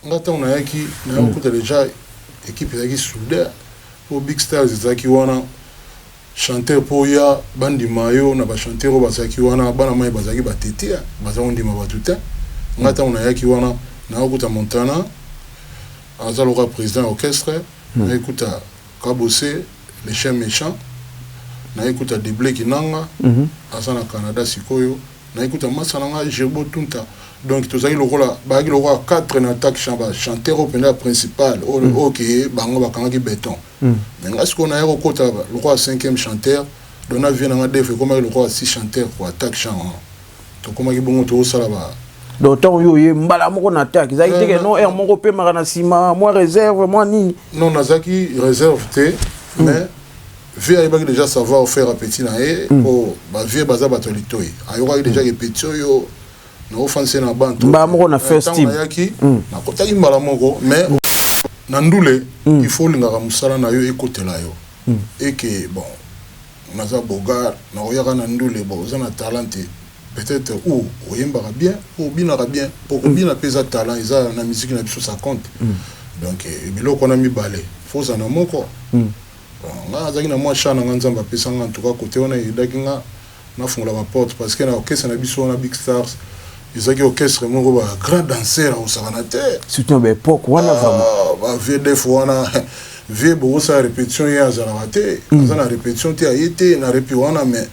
Nga tango nayaki naya kokuta dejà equipe ezalaki souder po big stars ezalaki wana chanteur po oya bandima yo na ba chanteur oyo bazalaki wana bana mayi bazalaki ba tetea baza kondima batu te nga tango nayaki wana naya kokuta montana aza lokola president ya orchestre naya kokuta kabose le chien mechant naya kokuta deble kinanga aza na canada sikoyo Na ecoute ya masta na nga Gerbo Tunta donc tozalaki lokola bayaki lokola 4 na attaque chant ba chanteur oyo penza principal oyo mm. oke bango bakangaki beton mm. mais nga sikoyo naya kokota lokola 5e chanteur donc na vie na nga def ekomaki lokola 6 chanteur ko attaque chant wana tokomaki bongo tokosala ba donc ntango yo oye mbala moko na attaque ezalaki te ke euh, non heure moko opemaka na nsima mwa réserve mwa nini non nazalaki réserve te hmm. mais vieux ayebaki déjà savoir faire appétit na ye hmm. po ba vieux baza bato ya litoi ayokaki déjà ke petit oyo naofandisa na bantu mbala moko na first team ayaki hmm. nakotaki mbala moko mais na ndule hmm. il faut olingaka mosala na yo ekotela yo eke bon naza bogar nakoyaka na ndule bon oza na talent te peut-être ou oyembaka bien ou obinaka bien po kobina mpe eza talent eza na musique na biso ça compte donc eh, biloko wana mibale fozana moko Bon nga nazalaki na mua chat na nga nzambe apesa nga en tout cas cote wana e aidaki nga na fungola ba porte parce que na orchestre na biso wana big stars ezalaki orchestre moko ba grand danseur ako sakana te surtout ba epoque wana vraiment ah, ba vieux def wana vieux boko sa repetition ye azalaka te mm. aza na repetition te aye te na repi wana mais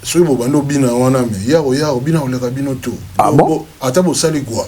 soki bobandi obina wana me yako yako bina koleka bino to ah bon? ata bosali gwa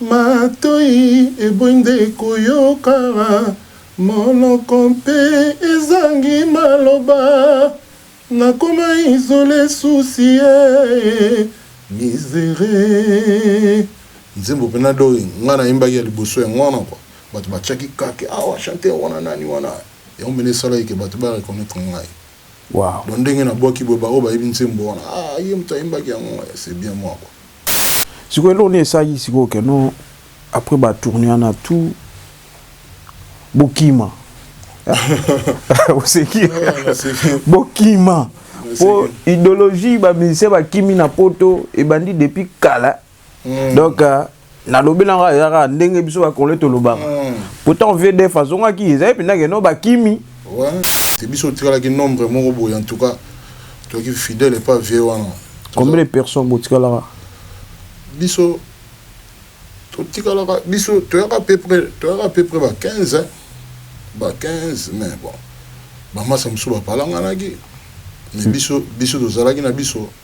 Matoyi eboyi nde koyoka. Monoko mpe ezangi maloba. Nakoma isole souci ee miseree. Nzembo pena doi nga na yembaki ya liboso yango wana quoi batu ba tiaki kake awa chanteur wana nani wana yango pena esalaki ke batu ba reconnaitre ngai Wow. Bon ndenge na bwaki boye ba oyo ba yebi nzembo wana ah ye mutu ayembaki yango eh c'est bien moi quoi. Sikoyo eloko nini esalaki sikoyo que non après ba tourne wana tout bo kima oseki bo kima po idologie ba musicien ba kimi na poto ebandi depuis kala. mm. donc euh, nalobela nga eza kaka ndenge biso bakongole tolobaka mm. pourtant vdf azongaki ezali mpenza keno bakimi te biso otikalaki nombre moko boye en tout cas toki fidèle epa vie wana combien de personnes botikalaka biso totikalaka biso toyaka peu près toyaka peu près ba 15 hein? ba 15 mais bon bamasa mosusu bapalanganaki mais biso biso tozalaki na biso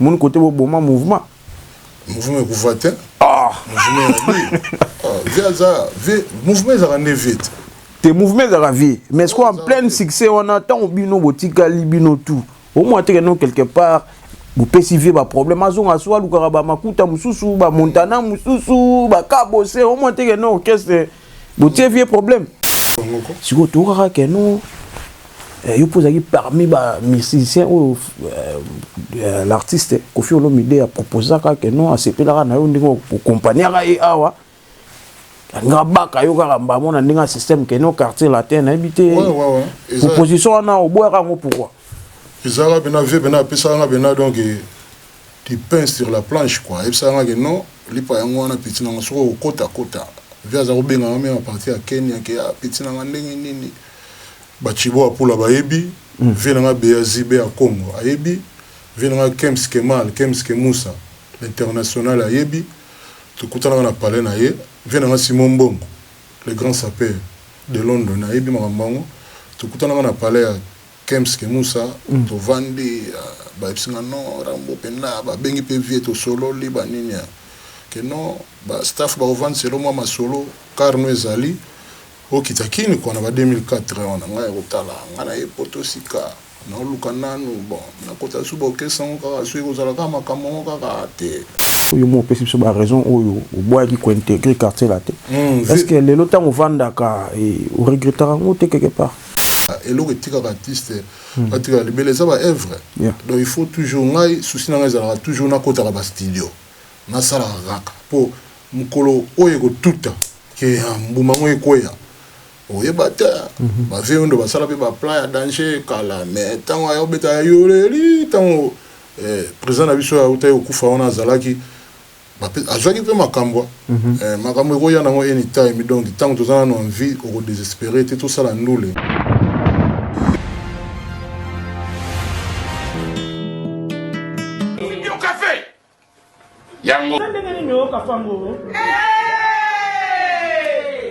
moni kote boboma mouvement mouvement ekufa te ah! mouvement ezalaka nde vie te te mouvement ezalaka vie mais sikoyo en pleine succès wana ntango bino botikali bino tout omona teke no quelque part bopesi vie baproblème azonga so alukaka bamakuta mosusu bamontana mosusu bakabose omona teke no orchestre botie vie problème sikoyo tokaka ke no eh, yo mpo ozalaki parmi bamusicien oyo euh, euh, l'artiste kofi olomide aproposaka ke no asepelaka na yo ndenge okompagnaka ye awa nga baka yo kaka mbamo na ndenge ya système ke no quartier latin nayebi te proposition wana oboyaka yango pourkoi ezalaka pena vie pena apesaka nga pena donc Du pain sur la planche quoi ayebisaka nga ke non lipa yango wana petit nanga soki oko kota kota vie aza ko benga nga meme à partir ya kenya ke ah petit nanga ndenge nini ba tshibo apula bayebi vie nanga bea zi bea kongo ayebi vie nanga kems kemal kems kemusa l'international ayebi tokutanaka na palais na ye vie nanga simon mbongo le grand sapeur de london ayebi makambo yango tokutanaka na palais ya Kem's kimusa tovandi bayebisi nga non rambo penda babengi pe vieux tosololi ba nini ke non ba staff bakovandisa elo mua masolo car no ezali okita kin kua na ba 2004 wana ngai kotala ngai naye poto sika naoluka nanu bon nakota lisusu ba orchestre yango kaka soki ekozala kaka makambo yango kaka te. Yo moko opesi biso ba raisons oyo oboyaki ko integrer quartier latin est ce que lelo tango ovandaka o regrettaka yango te quelque part? Kaka eloko etikaka artiste atikala libela eza ba œuvre donc il faut toujours ngai souci na ngai ezalaka toujours na kotaka ba studio na salaka kaka po mukolo oyo eko tuta que ha mbuma yango ekweya oyeba te ba vieux wendo ba sala pe ba plan ya danger kala mais tango aya obeta yoleli tango eh president na biso oyo awutaki kokufa wana azalaki Bape azwaki pe makambo eh makambo ekoya nango any time donc tango toza nanu en vie oko desesperer te tosala ndule. Eza ndenge nini oyoka fango?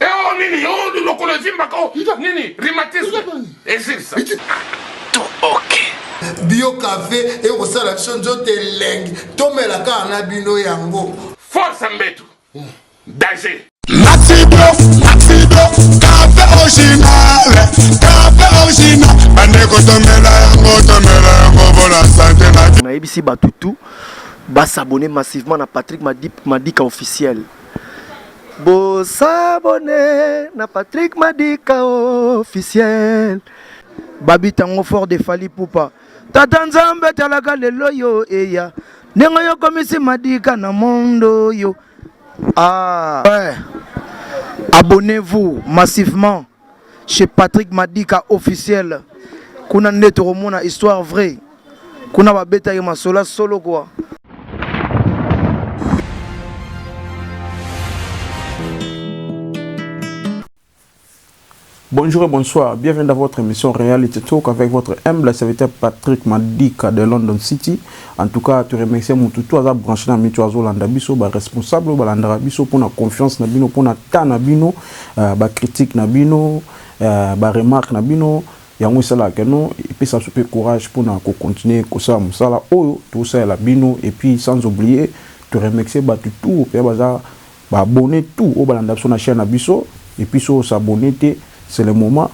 Eo nini yo lokolo evimbaka o nini rhumatisme ezilisa to ok bio cafe ekosala biso nzoto elengi tomela kaka na bino yango force mbetu danger Maxido, Maxido, café original, café original. Bandeko tomela yango, tomela yango mpona sante na. Nayebisi bato tout ba s'abonner massivement na Patrick Madika officiel. Bo sabone na Patrick Madika officiel. Babi tango fort de Fally Poupa. Tata Nzambe talaka lelo yo eya. Nengo yo komisi Madika na mondo yo. Ah. Ouais. Abonnez-vous massivement. chez Patrick Madika officiel kuna nde tokomona histoire vraie kuna babetaki masola solo kwa Bonjour et bonsoir, bienvenue dans votre émission Reality Talk avec votre humble serviteur Patrick Madika de London City. En tout cas to remercie mutu tout aza branche na mitu azo landa biso ba responsable ba landaka biso pona confiance na bino pona temps na bino euh, ba critique na bino euh, ba remarque na bino yango esalaka que non epesa biso pe courage pona ko continuer kosala mosala oyo tosalela bino et puis sans oublier to remercier batu tout pe baza Ba abonnes tout oyo balanda biso na chaine na biso et puis soki o s'abonner te c'est le moment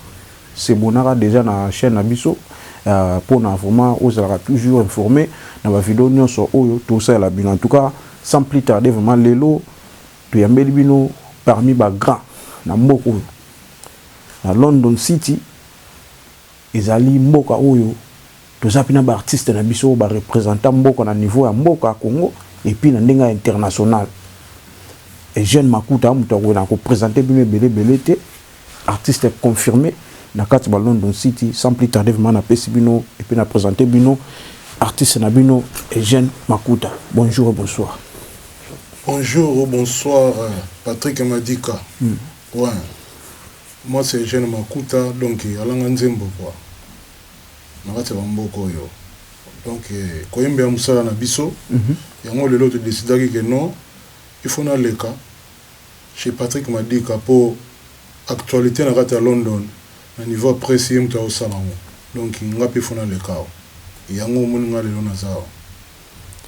sebonaka dejà na chaine na biso pona vraiment ozalaka toujours informer na ba video nionso oyo to salela bino en tout cas sans plus tarder vraiment lelo to yambeli bino parmi ba grands na mboka oyo na London city. Ezali mboka oyo toza pe na ba artistes na biso oyo ba representa mboka na niveau ya mboka Congo et puis na ndenge ya international. Eugène Makuta mutu akoki na ko presenter bino ebele ebele te, artiste confirme na kati ba London City. Sans plus tarder vraiment na pesi bino et puis na presenter bino artiste na bino Eugène Makuta. Bonjour et bonsoir. Bonjour ou bonsoir Patrick Madika. Ouin. Mwasi ya jeune makuta donc alanga nzembo quoi na kati ya ba mboka oyo donc koyembela musala na biso yango lelo to decidaki que non il faut na leka chez Patrick Madika po actualite na kati ya London na niveau ya presse ye mutu azo sala yango donc nga pe il faut na leka awa yango omoni nga lelo naza awa.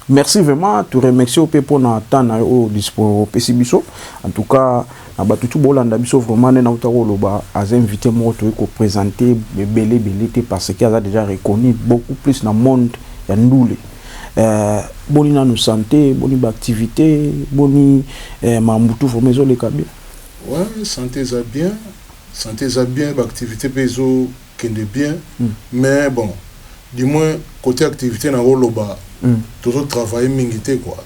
Merci vraiment to remercie ope mpo na temps na yo oyo dispo opesi biso en tout cas na bato tu bolanda biso vraiment nde nauta koloba aza invité moko toyei kopresente ebele ebele te parce que aza déjà reconnu beaucoup plus na monde ya ndule euh, boni nanu santé boni baactivité boni euh, mambo tu vraiment ezoleka bien ouais, santé eza bien santé eza bien baactivité mpe ezo kende bien mais bon du moins cote activite na ko loba tozo travailler mingi te quoi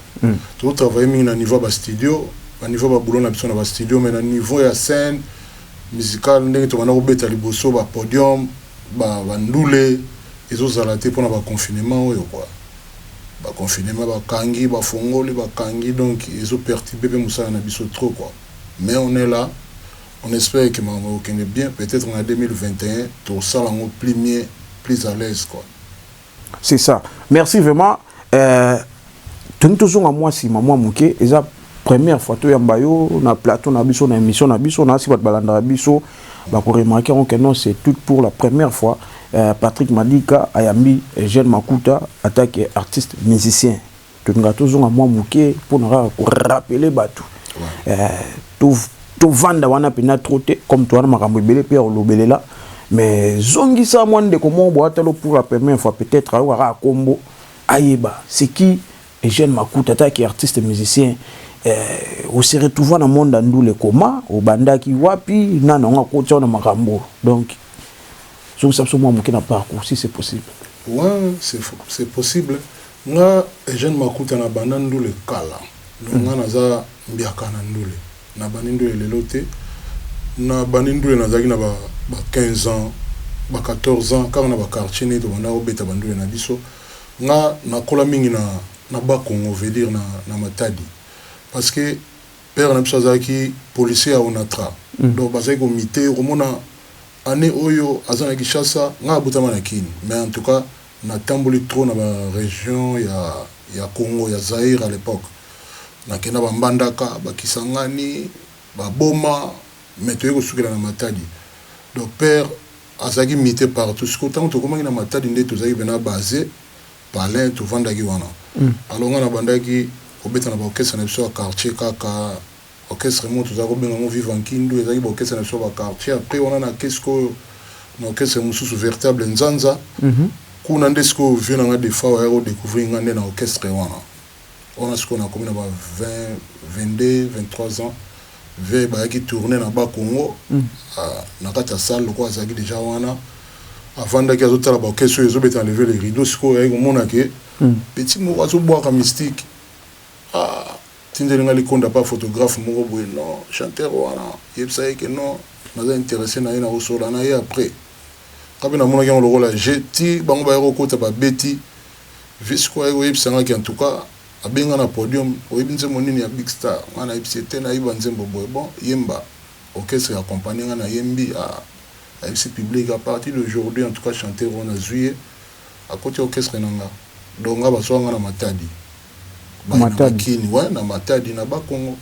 tozo travailler mingi na niveau ya ba studio na niveau ya ba boulot na biso na ba studio mais na niveau ya scène musicale ndenge to banda ko beta liboso ba podium ba ba ndule ezo zala te pona ba confinement oyo quoi ba confinement ba kangi ba fongoli ba kangi donc ezo perturbe pe musala na biso trop quoi mais on est là On espère que makambo ekokende bien, peut etre na 2021 tokosala yango plus mieux, plus à l'aise quoi. C'est ça. Merci vraiment. Euh, toni tozonga mwa nsima mwa moke eza première fois toyamba yo na plateau na biso na émission na biso nasi bato balandaka biso bakoremarke yango ke non c'est tout pour la première fois euh, patrick madika ayambi jeune makuta atake artiste musicien Tolingaka tozonga mwa moke mpo na kaka korapele bato eh, tovanda wana mpenza tro te comme towana makambo ebele mpe ya kolobelela mais zongisa mwa ndeko moko boatalo pour la première fois peut-être ayoka kaka nkombo ayeba c'est qui Eugène Makuta ataki artiste musicien eh, ose retrouva na monde ya ndule koma obandaki wapi nani yango akotya na makambo donc zongisa biso mwa moke na parcours si c'est possible ouais, c'est possible Nga Eugène Makuta na banda ndule kala donc nga naza mbiaka na ndule na bandi ndule lelo te na bandi ndule nazalaki na ba 15 ans ba 14 ans kaka na ba quartier ndenge tobandaka kobeta ba ndule na biso nga nakola mingi na na bas congo veut dire na na matadi parce que père na biso azalaki policier ya onatra donc bazalaki ko mite okomona annee oyo aza na kinshasa nga nabotama na kin mais en tout cas Na tamboli trop na ba region ya ya congo ya Zaïre à l'epoque na kenda ba mbandaka ba kisangani ba boma mais toye ko sukela na matadi donc père azalaki mite partout sikoyo tangu tokomaki na matadi nde tozalaki pena base palin tovandaki wana alors nga na bandaki kobeta na ba orchestre na biso ya quartier kaka Orchestre moko tozalaki kobenga yango Viva Nkindu, ezalaki ba orchestre na biso ya ba quartiers. Après wana nakei sikoyo na orchestre mosusu Veritable Nzanza. Kuna nde sikoyo vieux na ngai Defao ayaki ko decouvrir ngai nde na orchestre wana. Wana sikoyo nakomi na ba 20, 22, 23 ans. Vieux bayaki tourner na Bas Congo, na kati ya salle lokola azalaki dejà wana. Afandaki azotala ba orchestre oyo ezobeta na Lever le rideau. Sikoyo ayaki komona que petit moko azobwaka mystique. Ah! Tindeli nga likonda pa photographe moko boye non chanteur wana yebisa ye ke non naza interesse naye nako solola naye après nga pe namonaki yango lokola jeux ti bango baye kokota ba beti visco aye koyebisa nga ke en tout cas abenga na podium oyebi nzembo nini ya big star nga nayebisi ye te nayebi ba nzembo boye bon yemba orchestre accompagne nga nayembi a ayebisi public a partir d'aujourd'hui en tout cas chanteur oyo nazui ye Akoti orchestre na nga donc nga bazua nga na matadi baye na nga kin ouais na matadi na bas congo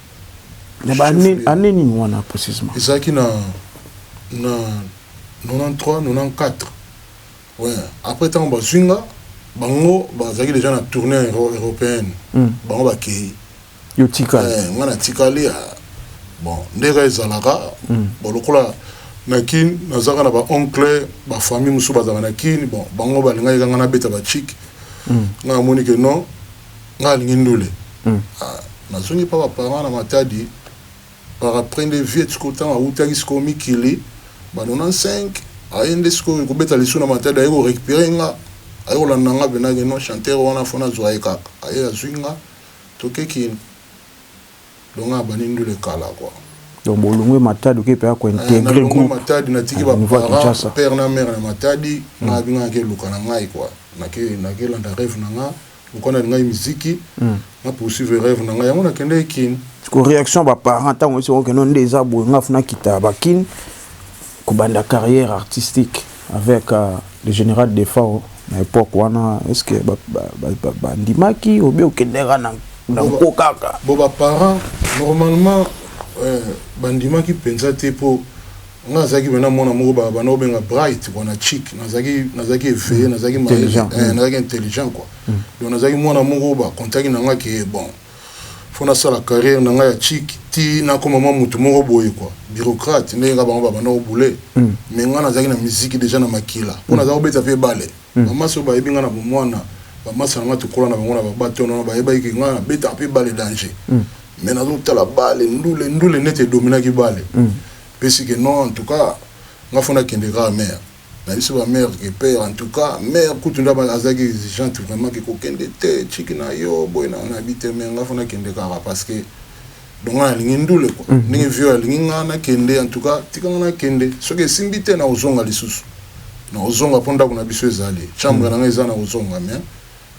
na ba annee nini wana precisement ezalaki na na 93 94 ouais après tango bazui nga bango bazalaki dejà na tournee europeenne bango bakeyi Yo otikali? Eh, nga natikali ah. Bon, nde ka ezalaka. Mm. Bon, lokola na kin nazaka na ba oncle ba famille mosusu bazalaka na kin bon bango balingaki kanga nabeta ba chic mm. nga namoni ke non nga alingi ndule mm. ah, nazongi pa baparent na matadi par après nde viet siko ntango awutaki siko mikili ba 95 aye nde sikoyo kobeta lisu na matadi aye korécupere nga aye kolanda nga mpenake non chanteur wana fo nazwa ye kaka aye azwi nga Toke kin longa na bandi ndule kala quoi. Donc bolongwe Matadi oke paya ko integrer groupe. Na Matadi na tiki ba parents, père na mère na Matadi, nga abi nga ke luka na ngai quoi. Na ke na ke landa rêve na nga, lokola na lingai miziki, na poursuivre rêve na nga, yango na kendeki kin. Siko reaction ba parents tango esi oke non nde eza boye nga funa kita ba kin. Kobanda carrière artistique avec le general Defao na epoque wana est-ce que ba ndimaki ou bien okende kaka na nko kaka? Bon ba parents normalement ba ndimaki penza te po nga nazalaki penza mwana moko ba bandaki ko benga bright quoi na chic nazalaki nazalaki eveille nazalaki mayele nazalaki intelligent quoi donc nazalaki mwana moko ba contaki na nga ke bon faut nasala carrière na ngai ya chic ti nakoma mwa motu moko boye kua bureaucrate ndenge kaka bango babanda kobule mm. me ngai nazalaki na miziki deja na makila mpo mm. naza kobeta mpe bale mm. bamasi oyo bayebi ngai na bomwana bamasi na ngai tokola na bango na babatono wana bayebaki ke ngai nabetaka mpe bale danger me nazotala bale ndule ndule nete edominaki bale mpe sike non en tout cas ngai fo nakende kaka mare Na biso ba mère que père en tout cas mère kutu nde azalaki exigeante vraiment que kokende te tshiki na yo boye na na bi te mais nga faut na kende kaka parce que donc nga na lingi ndule quoi ndenge vieux alingi nga na kende en tout cas tika nga na kende soki esimbi te nako zonga lisusu nako zonga po ndaku na biso ezali chambre na nga eza nako zonga mais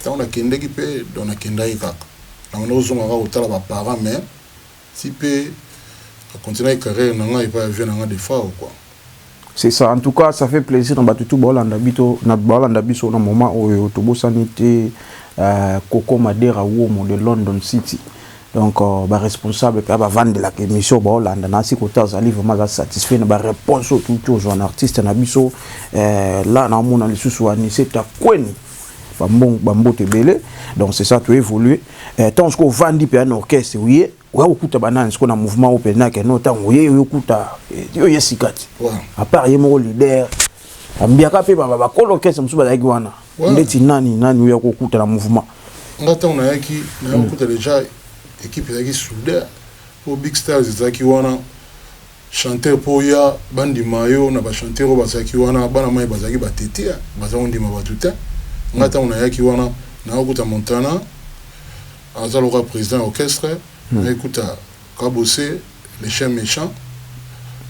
tangu na kendeki pe donc na kendaki kaka na banda kozonga kaka kotala ba parents mais Ti pe na continuaki carrière na nga epai ya vieux na nga Defao quoi. C'est ça en tout cas ça fait plaisir na batu tout bao landa bito na bao landa biso na moment oyo to bosani te euh, Coco Madera Uomo de London City donc euh, ba responsable pe ba vande la émission bao landa na si kota azali vraiment za satisfait na ba réponse tout tout un artiste na biso euh, là na mona lisusu anise ta kweni ba mbote ebele donc c'est ça to évoluer eh, ntango sikoyo ovandi mpe na orchestre oye oya kokuta banani sikoyo na mouvement oyo mpenza keno ntango oye oyo okuta eh, yo ye sika te apart ye moko leader ambiaka mpe bakolo orchestre mosusu bazalaki wana ndeti nani nani oyo akokuta na mouvement nga ntango nayaki nayakokuta hmm. déjà équipe ezalaki souder po big stars ezalaki wana Chanteur po oya ba ndima yo na ba chanteur oyo bazalaki wana bana mayi bazalaki ba tetea baza ko ndima batu tein nga tango na yaki wana naya kuta Montana aza lokola president ya orchestre naye kuta kabose le chien mechant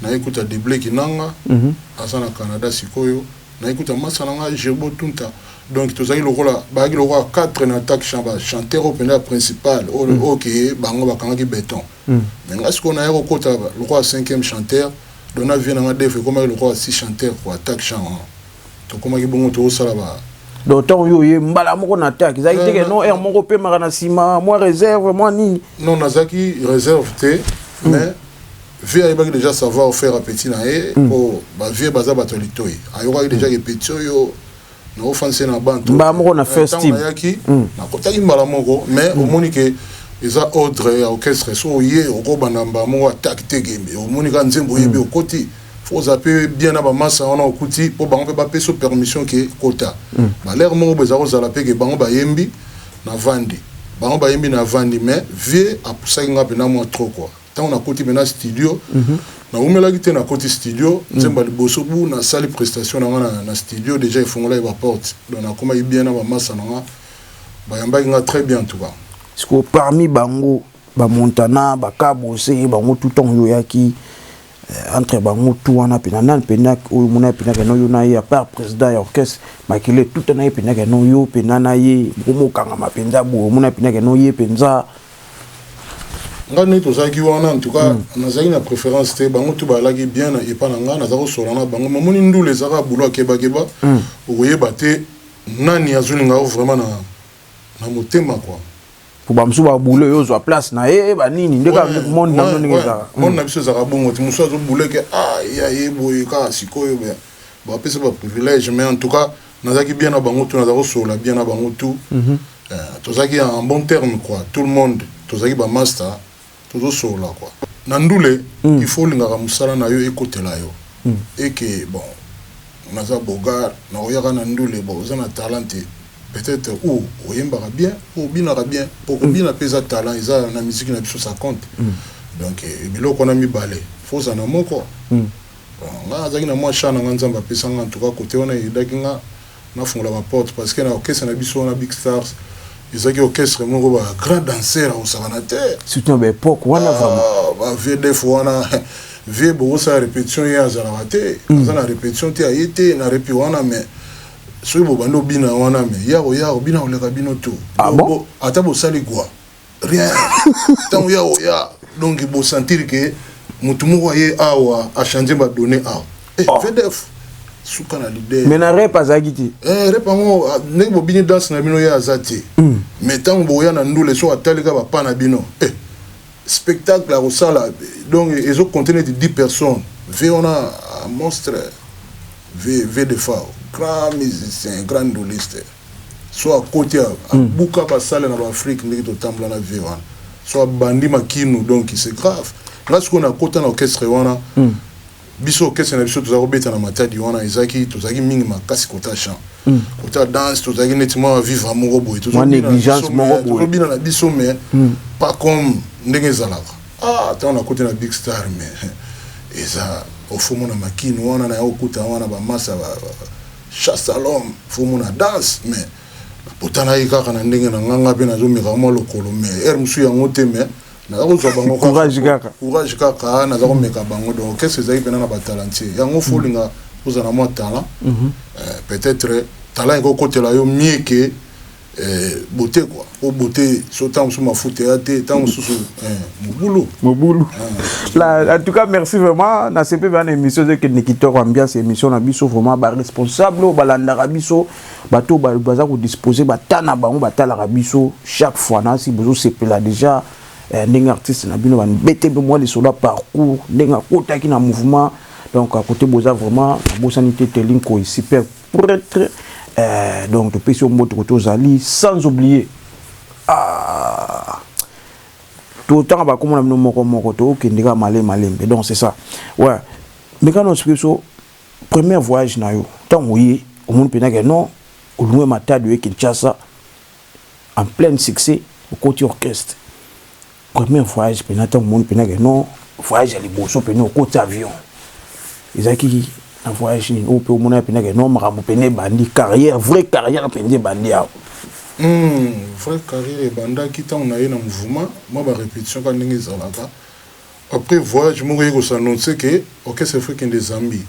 naye kuta deble kinanga aza na Canada sikoyo naye kuta masta na nga Gerbo Tunta donc tozalaki lokola bayaki lokola 4 na attaque chant ba chanteur oyo penza principal oyo ke bango ba kangaki beton mais nga sikoyo naya kokota lokola cinquième chanteur donc na vie nanga def ekomaki lokola six chanteur quoi attaque chant wana tokomaki bongo tozosala ba donc ntango yo oye mbala moko na attaque ezalaki te ke non heure moko opemaka na nsima mwa réserve mwa nini non nazalaki réserve te mais vie ayebaki déjà savoir faire ya petit na ye mpo bavie baza bato ya litoi ayokaki déjà ke petit oyo naofandisa ye na bantu mbala moko na first team ayaki mm. nakotaki mbala moko mais mm. omoni ke eza ordre ya orchestre so oye okobanda mbala moko atake te kembe omoni ka nzembo oyebi mm. okoti fo oza mpe bien na bamasa wana okuti mpo bango mpe bapesa permission ke kota mm. balere moko boye eza kozala mpe ke bango bayembi na vandi bango bayembi na vandi mais vie apusaki nga mpenza mwa trop kua tango nakoti mpenza studio nawumelaki te nakoti studio nzembo ya liboso bu nasali prestation na nga na, na studio deja efongolaki baporte donc nakomaki bien na bamasa na nga bayambaki nga très bien en tout cas sikoyo parmi bango bamontana bakabose bango tout temps oyoyaki euh, entre bango tout wana mpena nani mpena oyo mona mpendaka no yo na ye apart président ya orchestre makele tuta na ye mpendaka no yo mpena na ye bokomokangama mpenza boye omona mpendaka no ye mpenza nga nde tozalaki wana en tout cas hmm. nazalaki na préférence te bango tu balaki bien na epa na nga naza kosola na bango mamoni ndula ezaka bulo akebakeba hmm. okoyeba te nani azolinga yo vraiment na, na motema kua po bamosusu babule oyo ozwa place na ye eh, banini nde kaka monde na bino ndenge ezalaka hmm. monde na biso ezalaka bongo te mosusu azobuleke ah ya ye boye kaka sikoyo bapesa baprivilège mais en tout cas Nazalaki bien na bango tout, nazalaki kosolola bien na bango tout. Eh, tozalaki en bon terme quoi, tout le monde tozalaki ba masta, tozosolola quoi. Na ndule, il faut olingaka mosala na yo ekotela yo et que bon naza beaugard, nakoyaka na ndule bon oza na talent te, peut-être ou oyembaka bien ou obinaka bien, po kobina pe eza talent, eza na musique na biso ça compte. Donc eh, biloko wana mibale, faut ozala na moko. Bon nga nazalaki na mua chat na nga nzambe apesa nga en tout cas cote wana aidaki nga nafungola ba porte parce que na orchestre na biso wana big stars ezalaki orchestre moko ba grand danseur akosakana te surtout na ba epoque wana vraiment ah, ba vieux def wana vieux bokosala repetition ye azalaka te mm. aza na repetition te aye te na repi wana mais soki bobandi obina wana mais yako yako bina koleka bino to ah, bon? ata bosali gwa rien ntango ya oya donc bosentir ke motu moko aye awa achange badonne awa eh, oh. vdf suka na lider mais na rep azalaki te eh, rep yango ah, ndenge bobini danse na bino ye aza te hmm. mais ntango boya na ndule so atalika bapa na bino eh, spectacle akosala donc ezo compte neti 10 personnes ve wana ah, monstre ve ve de fao grand musicien grand nduliste so akoti awa abuka ba salle na ba Afrique ndenge totambola na vie wana so abandi makinu donc c'est grave nga sikoyo nakota na orchestre wana biso orchestre na biso tozalaki kobeta na matadi wana ezalaki tozalaki mingi makasi kota chant kota danse tozalaki neti mwa vivre moko boye Mwa négligence moko boye. tozobina na biso mais pas comme ndenge ezalaka ah ntango nakoti na big star mais eza ofomo na makinu wana naye okuta wana bamasa ba- ba- Chasse à l'homme faut mona danse mais napotana ye kaka na ndenge na nga nga pe nazo meka mwa lokolo mais heure mosusu yango te mais naza kozwa bango courage kaka courage kaka naza komeka bango donc orchestre ezalaki mpena na batalantie yango fo olinga ozala na mwa talent mhm. euh, peut-être talent ekokotela yo mieux ke Eh, beauté quoi. Au beauté, ce temps sous ma faute, et temps sous mon boulot. Mon boulot. En tout cas, merci vraiment. Dans ce une émission, c'est que Nikitor Ambiance, émission, on a biso vraiment, bah, responsable, bah, l'andara biso, bah, tout, bah, bah, ça, disposer, bah, tana, bah, on, bah, tala, biso, chaque fois, là, si vous c'est là déjà, eh, ndenge artiste na bino banibete mpe mwa lisolo ya parcours ndenge akotaki na mouvement donc à côté boza vraiment nabosani te telinkoyi super pretre eh, donc topesi yo mbote koto ozali sans oublier ah. totanga bakomona bino moko moko tokende kaka male malembe donc c'est ça ouais mekana osiki biso premier voyage na yo ntango oye omoni mpenza ke non olungue matadi oye kinshasa en pleine succès okoti orchestre Premier voyage pena tango omoni pena ke non voyage ya liboso pena okoti avion ezalaki na voyage nini oyo mpe omonaki pena ke non makambo pena ebandi carrière vraie carrière mpenza ebandi awa Hmm, vraie carrière ebandaki ntango naye na mouvement mwa ba repetition kaka ndenge ezalaka après voyage moko eye ko s'annoncer ke orchestre faut ekende Zambie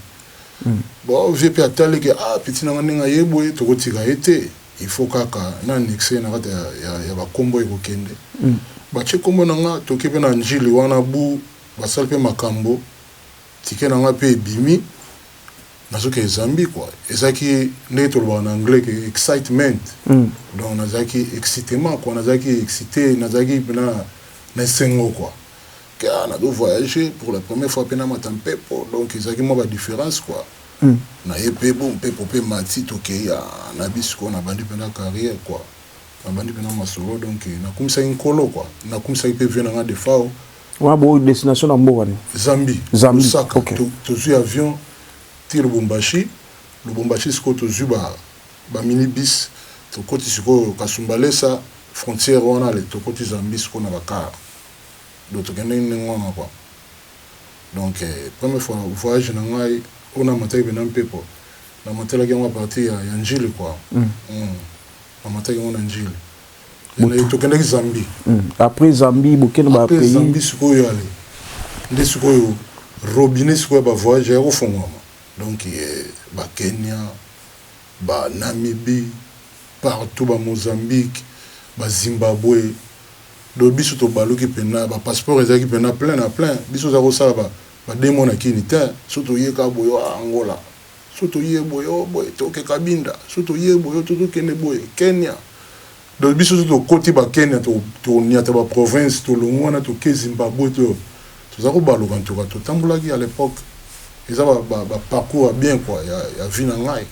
bon vieux mpe atali ke ah petit na nga ndenge aye boye tokotika ye te Il faut kaka na annexe na kati ya ba kombo eko kende batie kombo na nga toke pe na ndjili wana bu basali pe makambo ticket na nga pe ebimi nazo kende Zambie quoi ezalaki ndenge tolobaka na anglais ke excitement donc nazalaki excitement quoi nazalaki excite nazalaki pena na esengo quoi ke ah nazo voyager pour la première fois pe namata mpepo donc ezalaki mua ba difference quoi. na ye pe bo mpepo pe emati tokeyi ah na bis quoi na bandi pena carrière quoi na bandi pena masolo donc na kumisaki nkolo quoi na kumisaki pe vieux na nga defao Wana bo destination na mboka nini? Zambie Zambie lusaka ok. to tozui avion ti lubumbashi lubumbashi sikoyo tozui ba ba mini bis tokoti sikoyo kasumbalesa frontière wana le tokoti zambie sikoyo na ba car donc tokendeki ndenge wana quoi. donc premier fois voyage na ngai oyo na mataki pena mpepo na matelaki yango a partir ya ya ndjili quoi hum na mataki yango na ndjili mais tokendaki zambie après zambie bokende ba pays après zambie sikoyo yale nde sikoyo robinet sikoyo ya ba voyage aya kofonguama donc ba kenya ba namibie partout ba mozambique ba zimbabwe Donc biso tobaluki pena ba passeport ezalaki pena plein na plein biso oza ko sala ba deux mois na kin tein soki toye kaka boye ohh angola soki toye boye ohh boye toke cabinda soki toye boye ohh tozo kende boye kenya donc biso soki tokoti ba kenya toko niata ba province tolongui wana toke zimbabwe to toza ko baluka en tout cas totambolaki à l'epoque eza ba parcours ya bien quoi ya vie na ngai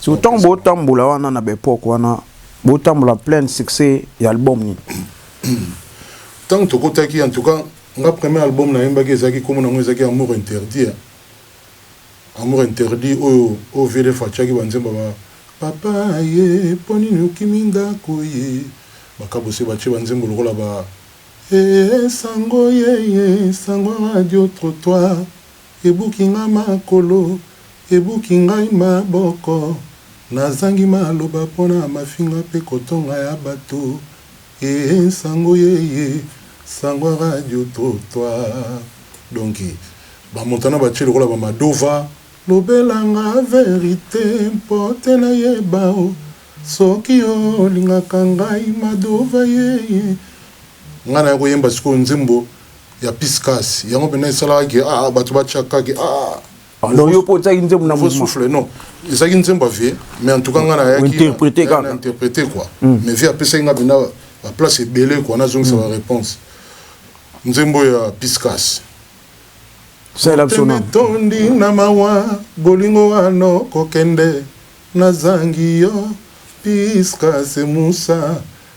donc eza. Tangu bo tambola wana na ba epoque wana Botambola plein succès ya album nini? Ntango tokotaki, en tout cas, nga premier album nayembaki ezalaki kombo nango ezalaki Amour interdit eh Amour interdit oyo oyo VDF atiaki ba nzembo ya ba Papa ye mpo nini okimi ndako ye ba Kabose batie ba nzembo lokola ba eh Sango ye ye Sango Radio Trottoir Ebuki nga makolo, ebuki ngai maboko, nazangi maloba po na mafinga pe kotonga ya bato eh Sango ye ye, sango ya radio trottoir Donc ba Montana batie lokola ba Madova, lobela nga verite po te nayeba oh Soki yo olingaka ngai Madova ye ye Nga naya koyemba sikoyo nzembo ya piscas yango mpena esalaka ke aa ah, ah, bato batiaka ke aa ah, non yo mpo otiaki nzembo na souffle non ezalaki nzembo ya vie mais en tout cas ngai nayakiinterprete kaka interprete quoi hmm. mais vie apesaki ngai mpena baplace ebele quoi nazongisa hmm. baréponse nzembo ya piscas tondi na mawa bolingo wano kokende nazangi yo piscas musa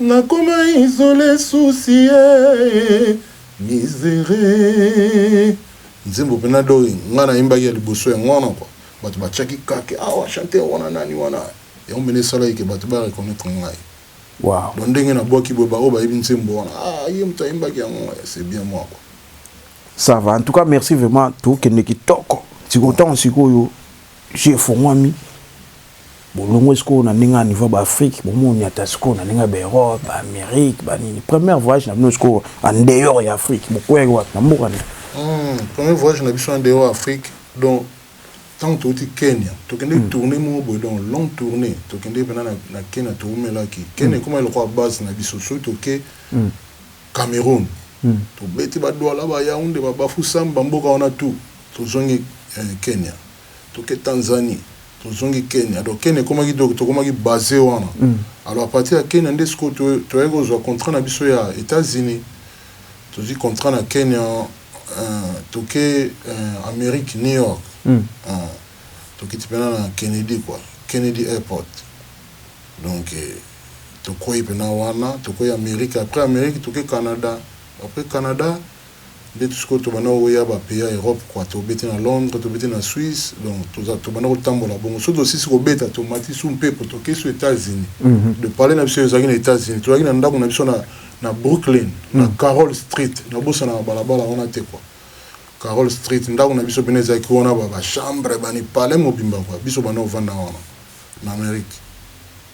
Na koma isole souci ee misere nzembo pena doi nga na yembaki ya liboso yango wana quoi batu ba tiaki kake awa chanteur wana nani wana yango pena esalaki ke batu ba reconnaitre ngai donc ndenge na buaki boye ba oyo ba yebi nzembo wana aah ye mutu ayembaki yango eh c'est bien moi quoi. Ça va en tout cas merci vraiment tokende kitoko sikoyo tango sikoyo. Jeu efongwami bolongwe sikoyo na ndenge ya niveau ba Afrique bomoniata sikoyo na ndenge ya ba Europe ba Amérique ba nini première voyage na bino sikoyo en dehors ya Afrique bokweyaki wapi na mboka nini hmm, premier voyage na biso en dehors ya Afrique donc ntango touti kenya tokende hmm. tourne moko boye donc long tourne tokende mpena na kenya toumelaki kenya hmm. ekoma lokola base na biso soki toke hmm. cameroun tobeti badwala bayaunde babafusambe bamboka wana tout Tozongi eh Kenya toke Tanzanie tozongi Kenya alors Kenya ekomaki donc tokomaki base wana alors à partir ya Kenya nde sikoyo to toyaki kozwa contrat na biso ya Etats Unis tozwi contrat na Kenya eh toke eh Amerique New York eh tokiti pena na Kennedy quoi Kennedy Airport donc eh tokwei pena wana tokwei Amerique après Amerique toke Canada après Canada ndetu sikoyo tobanda koya ba pays ya Europe quoi tobeti na Londres tobeti na Suisse donc toza tobanda kotambola bongo soki tosisi kobeta tomati su mpepo toke su Etats Unis de parler na biso ezalaki na Etats Unis tozalaki na ndaku na biso na na Brooklyn na Carol Street nabosanaka balabala wana te quoi Carol Street ndaku na biso pena ezalaki wana ba ba chambre bani palais mobimba quoi biso banda kovanda wana na Amerique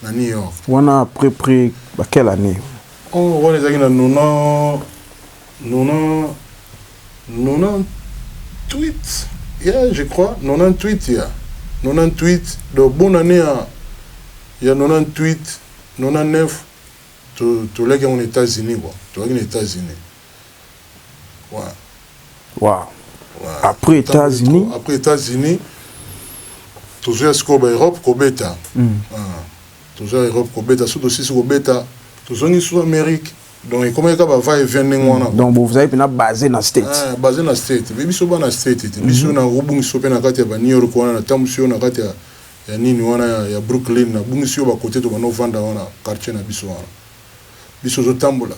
na New York wana après près ba quelle annee oh wana ezalaki na nona Nonantuit ya je crois nonantuit ya nonantuit donc bonne annee ya ya nonantuit nonanef to toliaki yango na etats unis quoi tozalaki na etats unis ouais Wow. Après Etats Unis. Après Etats Unis. Tozoya sikoyo ba Europe kobeta. Mm. Ah. Tozoya Europe kobeta. Soki tosisi kobeta, tozongi sous Amerique. donc ekomaki kaka ba va et vient ndenge wana donc bozali mpena base na state ah, base na state mpe biso bana state te biso mhm. nakobungisa yo mpe na kati ya ba new york wana natambwisi yo na kati ya ya nini wana ya, ya brooklyn nabungisi yo bakote tobanda ovanda wana quartier na biso wana biso ozotambola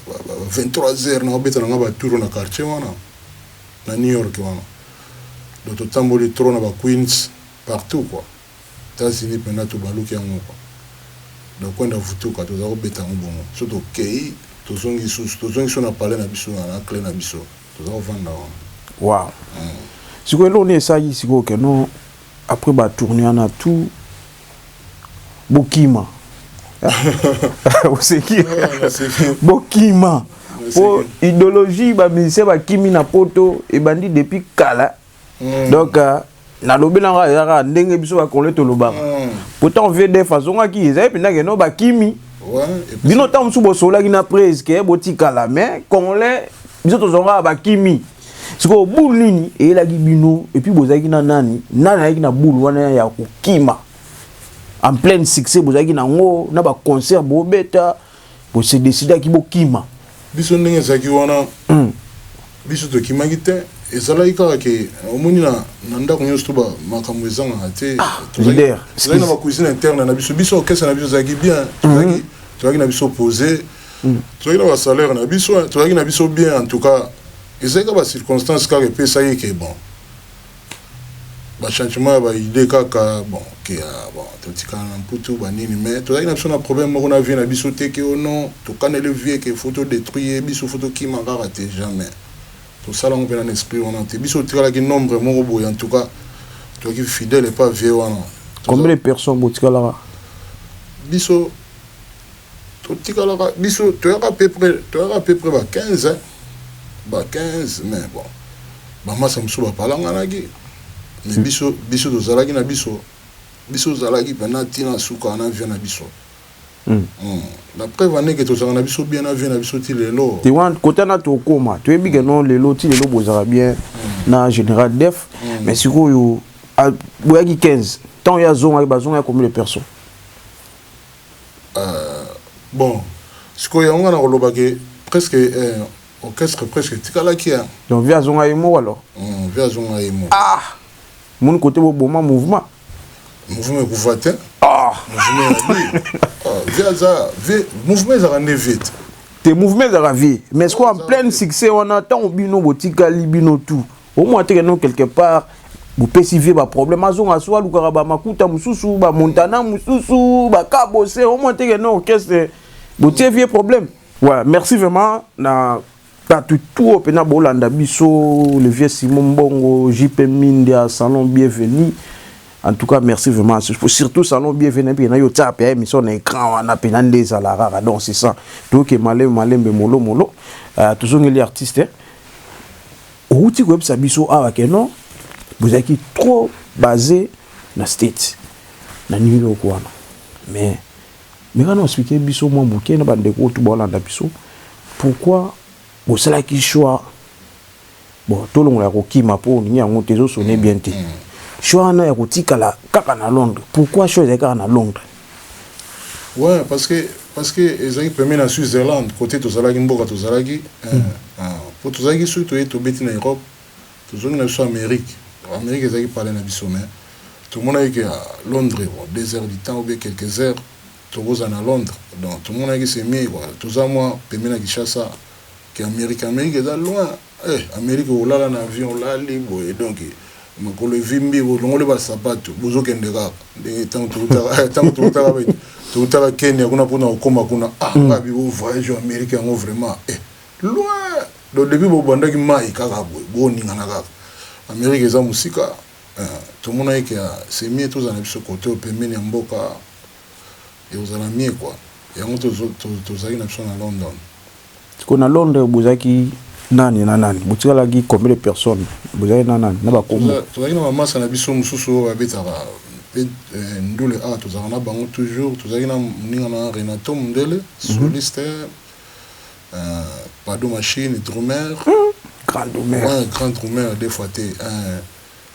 23 heures nakobeta na ngai batour na quartier wana na new york wana donc totamboli trop na ba queens partout quoi Etats-Unis penza tobaluki yango quoi. Donc kwenda vutuka tozali kobeta yango bongo. Soki tokeyi tozongi lisusu, tozongi lisusu na palais na biso na na cle na biso. Tozali kovanda wana. Wow. Eeh. Sikoyo eloko nini esalaki sikoyo que non après ba tournees wana tout bokima? Oseki? Eeh naseki. Bokima. Po Naseki. ideologie ba musiciens bakimi na poto ebandi depuis kala. mm. donc euh, nalobela nga eza kaka ndenge biso bakongole tolobaka mm. pourtant vdf azongaki ezali mpenza keno bakimi bino ntango mosusu bosololaki na prise ke botikala mais congolais biso tozongaka bakimi sikoyo bulu nini eyelaki bino epuis bozalaki na nani nani ayaki na bulu wana ya kokima en pleine succès bozalaki na yango na baconcert bobeta bo se decidaki bokima biso ndenge ezalaki wana mm. biso tokimaki te ezalaki kaka ke omoni na, na ndako nyonso to makambo ezangaka te ah, tozalaki na bacuisine interne na biso biso orchestre na biso ezalaki bien tozalaki mm -hmm. tozalaki na biso pose mm. tozalaki na basalaire na biso tozalaki na biso bien en tout cas ezalaki kaka bacirconstance kaka epesaki ke bon Ba changement ya ba idee kaka bon que ah bon totikala na mputu ba nini mais tozalaki na biso na problème moko na vieux na biso te que oh non tokaneli vieux que faut to detruit ye biso faut tokima kaka te jamais tosala yango mpe na esprit wana te biso totikalaki nombre moko boye en tout cas toki fidèle epa vieux wana Combien de personnes botikalaka? biso totikalaka biso toyaka peu près toyaka peu près ba 15 hein ba 15 mais bon ba masa mosusu bapalanganaki mais biso biso tozalaki na biso biso tozalaki pena ti na suka na vie na biso Hum, la preuve en est que tozalaka na biso bien na vie na biso ti lelo te wana kote wana tokoma toyebi ke non lelo ti lelo bozalaka bien na général def mais sikoyo a- boyaki 15 ntango ye azongaki bazongaki combien de personnes Eeh bon sikoyo yango nga nakoloba ke presque eeh orchestre presque etikalaki hein. Donc vie azonga ye moko alors? Hum vie azonga ye moko. Ah! Omoni kote bo boma mouvement? Mouvement ekufa te. Ah! Mouvement ya vie. Ah vie aza vie mouvement ezalaka nde vie te. Te mouvement ezalaka vie mais sikoyo en pleine succès wana tango bino botikali bino tout. omona teke no quelque part bopesi vie baproblème azonga so alukaka bamakuta mosusu bamontana mosusu bakabose omona teke no orchestre botie vie problème ouais merci vraiment na bato tout oyo mpena bolanda biso le vieux simon mbongo jp mindia salon bienvenu en tout cas merci vraiment surtout salon bienvenu mpe nayo otia mpe émission na écran wana mpena nde ezala kaka donc c'est ça toyoke malembe malembe molomolo euh, tozongeli artiste eh? Owuti koyebisa biso awa que non bozalaki trop base na States na New York wana mais meka na expliquer biso mwa moke na bande ko to bolanda biso pourquoi bosalaki choix bon tolongola ya kokima mpo olingi yango te ezosone bien te mm. choix wana ya kotikala kaka na londres pourquoi choix ezali kaka na londres Ouais parce que parce que ezalaki premier na Switzerland côté tozalaki mboka tozalaki euh, mm. ah, po tozalaki soki toye tobeti na Europe tozongi na biso Amérique Amérique ezalaki pale na biso mais tomonaki ke ah, Londres bon, deux heures du temps ou bien quelques heures tokozala na Londres donc tomonaki c'est mieux quoi toza mwa pembeni na Kinshasa ke Amérique Amérique eza loin Eh Amerique olala na avion olali boye donc makolo evimbi bolongoli ba sapatu bozo kende kaka ndenge tango towutaka eh, tango towutaka bete towutaka Kenya kuna pona kokoma kuna ah mm. ngabi bo voyage Amerique yango vraiment eh loin donc depuis bobandaki mai kaka boye boningana kaka Amerique eza mosika eh, tomonaki ke ah, semie tozala na biso kote pembeni ya mboka ekozala mie kua yango tozalaki na biso na London Sikoyo na Londres bozalaki nani na nani? Botikalaki combien de personnes? Bozalaki na nani na ba kombo? Tozalaki na ba masta na biso mosusu oyo babetaka pe ndule awa tozalaka na bango toujours. Tozalaki na moninga na Renato Mundele, soliste, Pado Machine, drumeur, grand drumeur, deux fois te,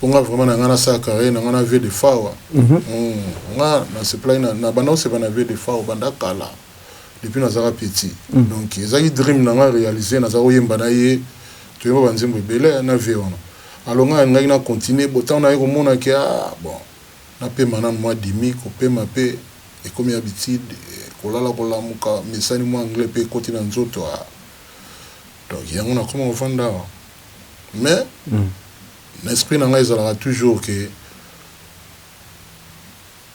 po nga vraiment na nga na sala carrière na nga na vie de fawa nga na sepelaki na na banda kosepela na vie de fawa banda kala depuis nazaka petit donc ezalaki dream na nga realiser naza koyemba na ye toyemba ba nzembo ebele na vie wana alors nga nalingaki na continuer bo tango naye komona ke ah bon na pema nanu mwa demi kopema pe ekomi habitude kolala kolamuka mesani mwa anglais pe ekoti na nzoto ah donc yango nakoma kovanda awa mais na esprit na nga ezalaka toujours que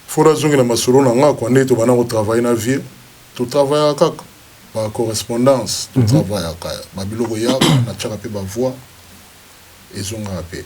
faut na zongela masolo na nga quoi nde to bana ko travailler na vieux to travaillaka kaka ba correspondance to mhm. travaillaka ba biloko yaka na tiaka pe ba voix ezongaka pe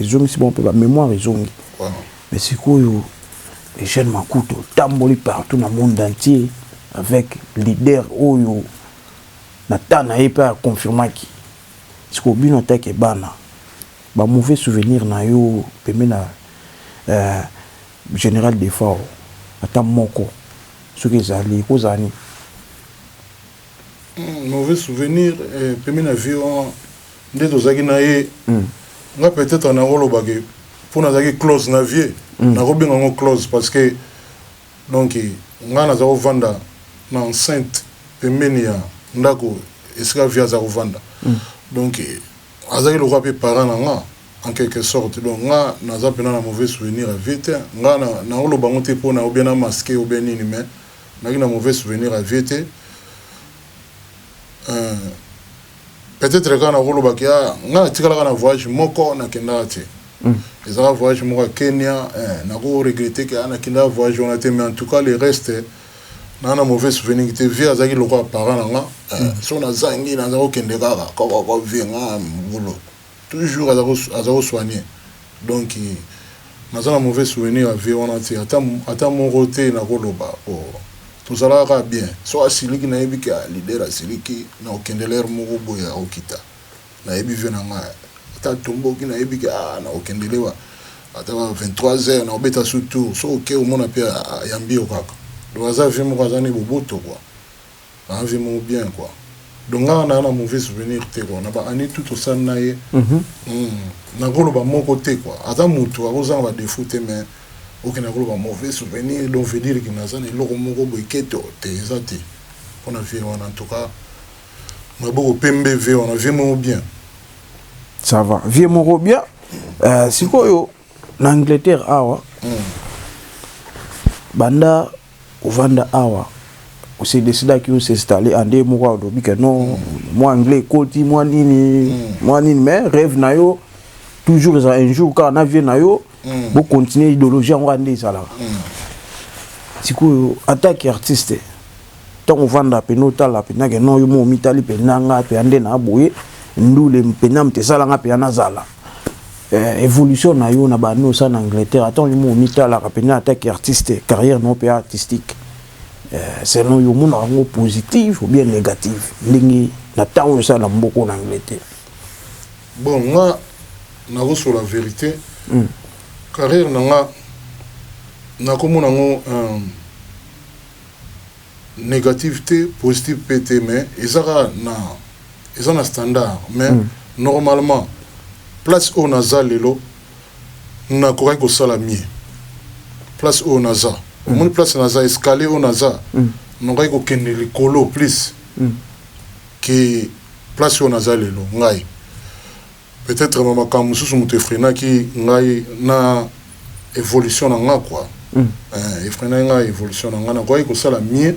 ezongisi bango mpe ba memoire ezongi mais sikoyo Eugène Makuta otamboli partout na monde entier avec leader oyo na temps na ye mpe a confirmaki sikoyo bino ata ke bana ba mauvais souvenir na yo pembeni na euh, general Defao ata moko soki ezali ekozala nini mauvais souvenir eh, pemi na vie wana nde tozalaki na ye mm. nga peut-être nakoloba ke mpo nazalaki close na vie mm. nakobenga yango close parce que donc nga naza kovanda na enceinte pembeni ya ndako esika vie aza kovanda mm. donc azalaki lokola mpe parent na nga en quelque sorte donc nga naza mpena na mauvais souvenir ya vie te nga nakoloba yango te mpo na obien na maske obien nini mais Nazalaki na mauvais souvenir ya vieux te euh peut etre kaka nakoloba ke ah, nga natikalaka na voyage moko nakendaka te mm. ezalaka voyage moko ya Kenya eh, nako regrette ke ah, nakendaka voyage wana te mais en tout cas le reste na na mauvais souvenir te vie azalaki lokola parent na nga eh, mm. so nazangi naza kokende kaka kokoko vie nga mbulu Tout jour aza ko soigne donc naza na mauvais souvenir ya vieux wana te ata moko te nako loba po tozalaka kaka bien soki asiliki nayebi ke ah leader asiliki nako kende l'heure moko boye ako kita nayebi vieux na nga ata atomboki nayebi ke ah nako kende leba ata ba 23 heures nako beta su tour soki oke omona pe ayambi yo kaka donc aza vieux moko aza nde boboto quoi. Naza moko bien quoi donc nga naza na mauvais souvenir te quoi na ba annee tout tosali na ye nakoloba moko te quoi aza mutu akozanga ba defaut te mais ok nakoloba mauvais souvenir donc veut dire que naza na eloko moko boye keto te eza te pona vieux wana en tout cas maboko pembe vieux wana vieux moko bien. Ça va vieux moko bien sikoyo na Angleterre awa banda Ovanda awa o se decida que o s'installer en de moko alobi que non mwa anglais ekoti mwa nini mwa nini mais rêve na yo toujours eza un jour kaka na vieux na yo bo continuer idéologie yango ande ezalaka sikoyo ata ki artiste ntango ovanda pena otala pena ke non yo mo omitali pena nga pena nde na boye ndule pena mte esala nga pena nazala eh, évolution na yo na bande osa na angleterre ata olimo omitalaka mpenza ata ke artiste carrière na yo mpe artistique eh, selon yo omonaka yango positive ou bien négative ndenge na ntango oyo osala na mboko na angleterre bon nga nakosola vérité mm. carrière na nga nakomona yango euh, négative te positive mpe te mais eza kaka na eza na standard mais mm. normalement place oyo naza lelo nakokaki kosala mie place oyo naza mm. omoni place naza escalier oyo naza mm. nakokaki kokende likolo plus mm. ke place oyo naza lelo ngai Peut etre ma makambo mosusu moto efrenaki ngai na evolution na nga quoi eeh efrenaki nga evolution na nga nakokaki kosala mieux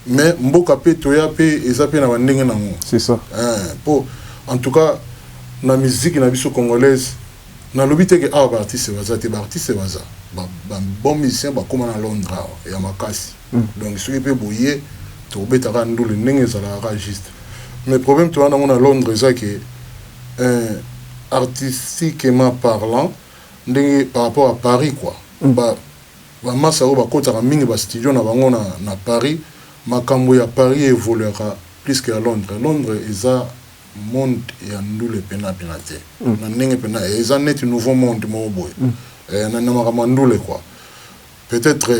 mais mboka pe toya pe eza pe na ba ndenge na ngo C'est ça. eeh po en tout cas na miziki na biso congolaise nalobi te ke awa ba artistes baza te ba artistes baza ba ba bon musiciens bakoma na Londres awa ya makasi Donc soki pe boye toko beta kaka ndule ndenge ezalaka kaka juste mais problème toza nango na Londres eza ke eeh artistiquement parlant ndenge par rapport à Paris quoi ba masta oyo bakotaka mingi ba studio na bango na Paris makambu ya Paris e evoluaka plus que ya Londres Londres eza monde ya ndule pena pena te na ndenge pena eza neti nouveau monde moko boye na makambo ya ndule quoi. Peut etre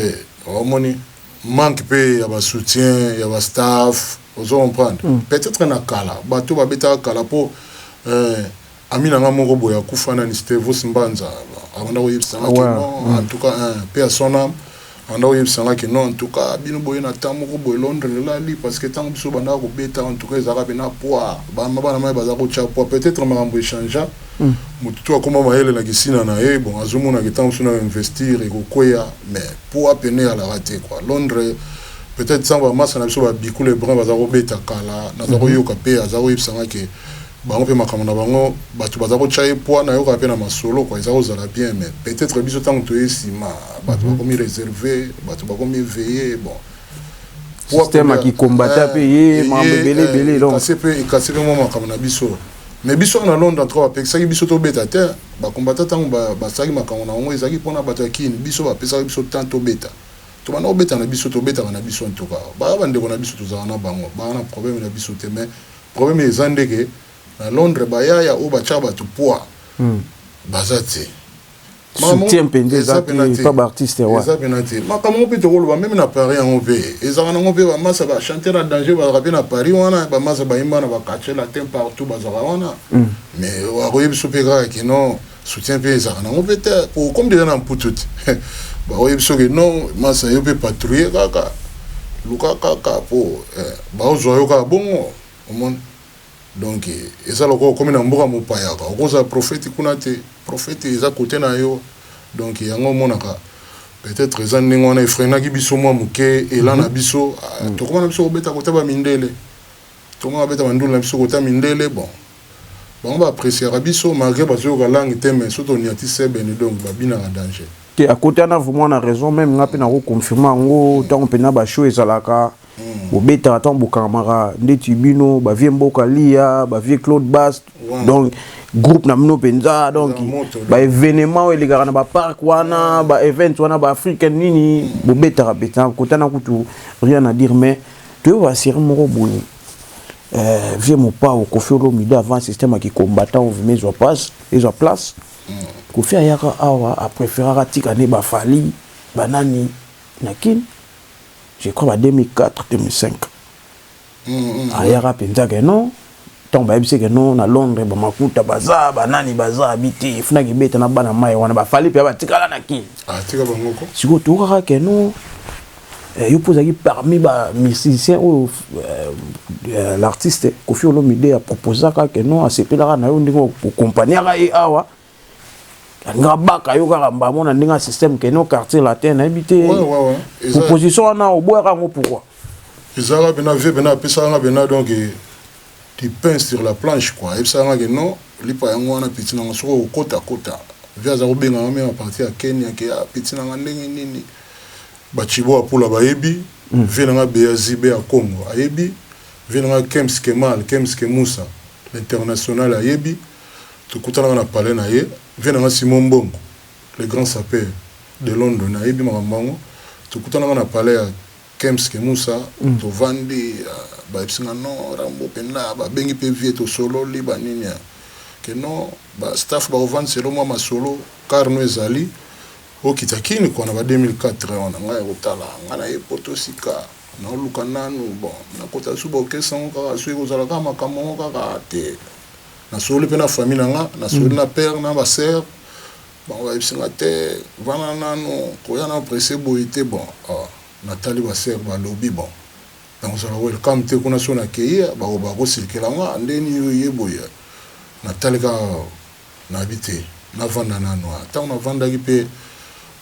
omoni manque pe ya ba soutien ya ba staff ozo comprendre peut etre na kala batu ba betaka kala po ami na nga moko boye akufa nani stevos mbanza abanda ko yebisa nga ke non en tout cas un paix à son ame abanda ko yebisa nga ke non en tout cas bino boye na temps moko boye londre elali parce que tangu biso obandaka ko beta en tout cas ezalaka pena poid ba mama na mayi baza ko tia poid peut etre makambu e changea mutu tout akoma mayele na kisina na ye bon azo mona ke tango mosusu nao investir eko kweya mais po a pene alaka te quoi londre peut etre sans ba masta na biso ba biku le brun baza ko beta kala naza ko yoka pe aza ko yebisa nga ke bango pe makambo na bango batu baza ko tia ye poid na yokaka pe na masolo quoi eza ko zala bien mais peut etre biso tango toye sima batu ba komi reserve batu ba komi veye bon système ya ki combatta pe ye mambo ebele ebele donc kasi pe kasi pe mwa makambo na biso Mais biso na Londres en tout cas bapekisaki biso tobeta te ba combattants tango basalaki ba makambo na yango ezalaki mpona bato ya Kin biso bapesaki biso temps tobeta tobanda kobeta na biso tobetaka na biso en tout cas baya bandeko na biso tozalaka na bango baya na problème na biso te mais problème eza nde ke na Londres bayaya oyo batyaka bato poids hmm. baza te soutien mpenza eza te epa baartiste ya wana makambo yango mpe tokoloba meme na paris yango mpe ezalaka nango mpe bamasa bachanteur ya danger bazalaka mpe na paris wana bamasa bayimba na baquartier latin partout bazalaka wana hmm. mais akoye biso mpe kaka kino soutien mpe ezalaka nango mpe te po comme deja na mputu te bakoye biso ke non masa yo mpe patrouille kaka luka kaka po eh, baozwa yo kaka bongo omoni Donc eza lokola okomi na mboka mopaya quoi okozala prophete kuna te prophete eza cote na yo donc yango omonaka peut etre eza ndenge wana efrenaki biso mwa moke elan na mhm. biso ah, mhm. tokoma na biso kobeta kota ba mindele tokoma kobeta bandule na biso kota mindele bon bango ba appréciaka biso malgré bazoyoka langue te mais soki toniati sebene donc babinaka danger te akotana vraiment na raison meme nga mpe nakoconfirme yango ntango mpenza bashow ezalaka mm. bobetaka ntango bokangamaka ndeti bino bavie mboka liya bavie claude bast wow. donc groupe na bino mpenza donc baévénement oyo elekaka na bapark wana baevent wana baafricain nini mm. bobetaka mpenza kotana kutu rien à dire mais toyebi baserie moko boye euh, vie mopao kofi olomide avant système ya kicombattant ovima ezwa place ezwa place mm. kofi ayaka awa apréféraka atika nde bafali banani na kini je crois ba 2004 2005 ayaka mpenza ke non ntango bayebisi ke non na londres bamakuta baza banani baza abi te efunaki ebeta na bana mai wana bafali mpe batikala na kini ah, sikoyo toyokaka ke non eh, yo mpo ozalaki parmi bamusicien oyo eh, eh, l'artiste kofi olomide aproposaka ke non asepelaka na yo ndenge okompagnaka ye awa nga baka yo kaka mbamo na ndenge ya système keno quartier latin nayebi te proposition wana oboyaka yango pourquoi ezalaka mpena vie mpena apesaka nga mpena donc eh, du pain sur la planche quoi ayebisaka nga ke non lipa yango wana peti nango soki okokota kota vie aza kobenga nga meme apartir ya kenya ke ah, peti nanga ndenge nini bacibo apula bayebi mm. vie nanga beazibe ya congo ayebi vie nanga kems kemal kems kemusa l'international ayebi Tokutanaka na palais na ye, vieux na nga Simon Mbongo, le grand sapeur de London, ayebi makambo yango. Tokutanaka na palais ya Kemp's Kemusa, tovandi, bayebisi nga non, Rambo penza, babengi pe vieux, tosololi, ba nini, que non, ba staff bakovandisa ye, mwa masolo, car no ezali, okita Kin kua na ba 2004 wana, ngai kotala, ngai naye poto sika, naoluka nanu, bon, nakota Suba Orchestre yango kaka, soki ekozala kaka makambo yango kaka te. Na sololi pe na famille na nga, na sololi na père na ba sœurs, bango ba yebisi nga te vanda nanu koya nanu presse boye te, bon ah na tali ba sœurs ba lobi bon nako zala welcome te kuna soki na keyi eh bako bako circula nga ndeni yo oye boye eh na tali kaka na yebi te na vanda nanu ah tangu na vandaki pe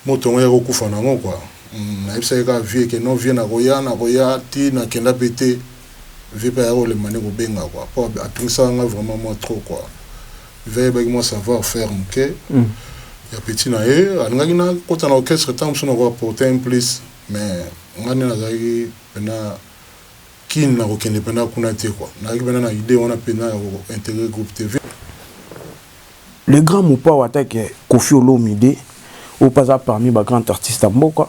Moto yango yako kufa na ngo quoi hum na yebisaki kaka vieux ke non vieux nako ya nako ya ti na kenda pe te vieux pe ayaki kolemba nde ko benga quoi po atungisaka nga vraiment mua trop quoi vieux ayebaki mua savoir faire muke ya petit na ye alingaki na kota na orchestre tango mosusu nako apporter un plus mais nga nde nazalaki pena kin nako kende pena kuna te quoi nazalaki pena na idee wana pena yako integrer groupe te vieux Le grand mopao ata ke koffi olomide oyo pe aza parmi ba grand artiste ya mboka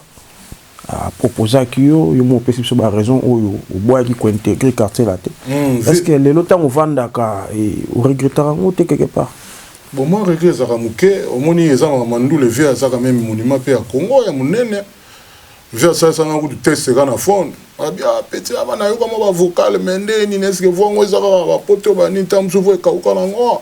a proposaki yo yo moko opesi biso ba raison oyo oboyaki ko integre quartier latin est ce que lelo tango ovandaka o regretaka yango te quelque part Bon moi regret ezalaka muke omoni eza ma mandule vieux aza quand meme monument pe ya congo ya munene vieux asalisa nga kutu test kaka na phone abi ah petit aba nayoka mwa ba vocal mais nde nini est ce que voix ngo eza kaka ba poto ba nini tango mosusu voix ekauka nango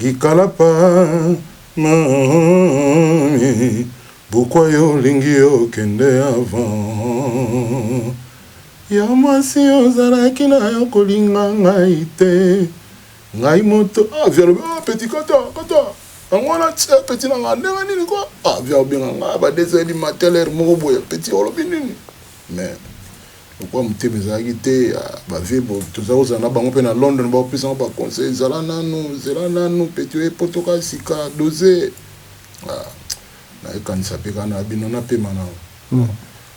Likalapa mummy pourquoi yo olingi okende avant Ya mwasi ozalaki nayo kolinga ngai te Ngai moto ah via alobi oh petit kata kata Yango wana tse petit na nga ndenge nini ko ah via obenga nga ba deux heures du matin l'heure moko boye petit olobi nini mais Lokola motema ezalaki te ya ba vieux boye toza kozala na bango pe na London ba kopesa ngo ba conseil zala nanu zela nanu petit oye poto ka sika dose ah naye kanisa pe ka na bino na pema nanu ah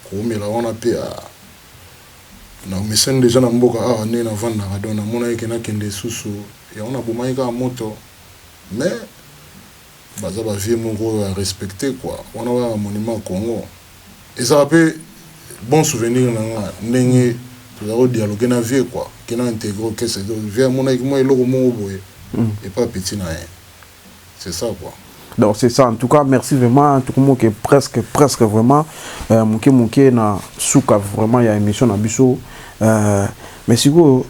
kowumela wana pe ah na omesani dejà na mboka awa nde na vandaka donc na monaki ke na kende susu yango na bomaki kaka moto mais Baza ba vieux moko ya respecte quoi wana ba yaka monument kongo ezalaka pe bon souvenir na nga ndenge tozalaka ko dialoguer na vieux quoi ke na integrer orchestre ezo vieux amonaki mua eloko moko boye epa ya petit na ye c'est ça quoi. Donc c'est ça en tout cas merci vraiment tokomoke presque presque vraiment moke moke na suka vraiment ya emission na biso mais sikoyo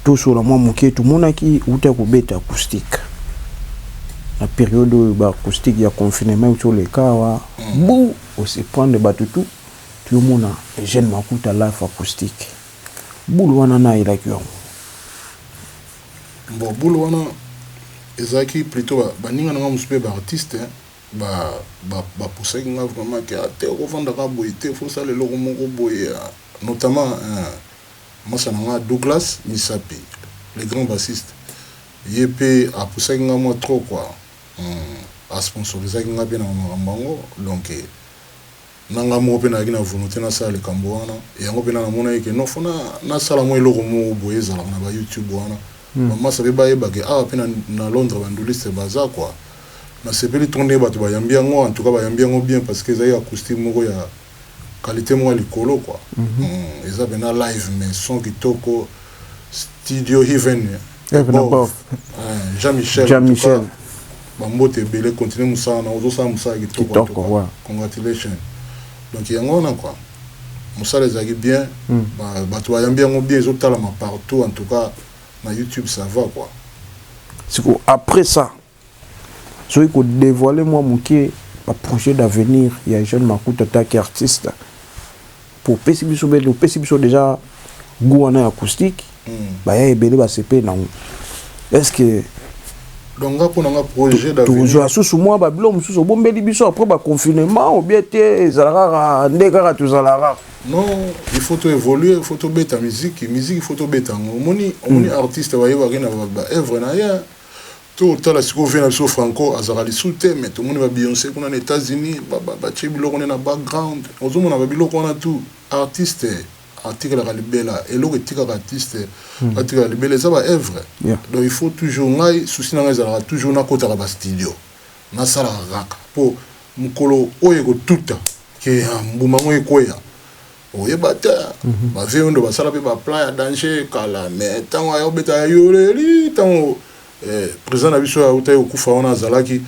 Tosolola mwa moke. Tomonaki uta kobeta acoustique na periode oyo ba acoustique ya confinement euti oleka awa mm. bu ose prendre bato tout toyomona Eugène Makuta life acoustique bulu wana na elaki yango bon bulu wana ezalaki plutôt baninga na nga mosusu mpe baartiste bapusaki nga vraiment ke ate ah, okofandaka boye te fosala eloko moko boye ah, notamment euh, Masta na nga Douglas Misapi le grand bassiste ye pe a poussaki nga mua trop quoi hum a sponsorisaki nga pe na ba makambo yango donc na nga moko pe nazalaki na volonte na sala likambo wana yango pena na monaki que non faut na sala mua eloko moko boye ezalaka na ba YouTube wana ba masta pe ba yeba que awa pe na Londres ba ndulistes baza quoi na sepeli trop ndenge batu ba yambi yango en tout cas ba yambi yango bien parce que ezalaki acoustique moko ya Qualite moko ya likolo quoi eza pena live mais son kitoko studio heaven above jean michel jean michel ba mbote ebele continue musala na ozo sala musala kitoko kitoko congratulations donc yango wana quoi musala ezalaki bien batu ba yambi yango bien ezo talama partout en tout cas na youtube ça va quoi sikoyo après ça Soki ko devoiler mua mukie ba projets d'avenir ya Eugène Makuta en tant que artiste po opesi biso belle opesi biso dejà gout wana ya acoustique ba ya ebele ba sepeli nango est-ce que donc nga pona nga projet d'avenir tozwa susu mua ba bilo mususu obombeli biso après ba confinement ou bien te ezalaka kaka nde kaka tozala kaka non il faut to évoluer il faut to beta musique musique il faut to beta ngo omoni omoni artiste ba yebaki na ba œuvre na ye To tala sikoyo vieux na biso Franco azalaka lisusu te mais tomoni ba Beyonce kuna na Etats Unis ba tie biloko nde na background ozo mona ba biloko wana tout artiste atikalaka libela eloko etikaka artiste atikala libela eza ba œuvre donc il faut toujours ngai souci na ngai ezalaka toujours na kotaka ba studio na salaka kaka po mukolo oyo eko tuta que mbuma yango ekweya Oyeba te ba vieux ondo basala pe ba plan ya danger kala mais tango aya obeta ya yoleli tango president na biso awutaki kokufa wana azalaki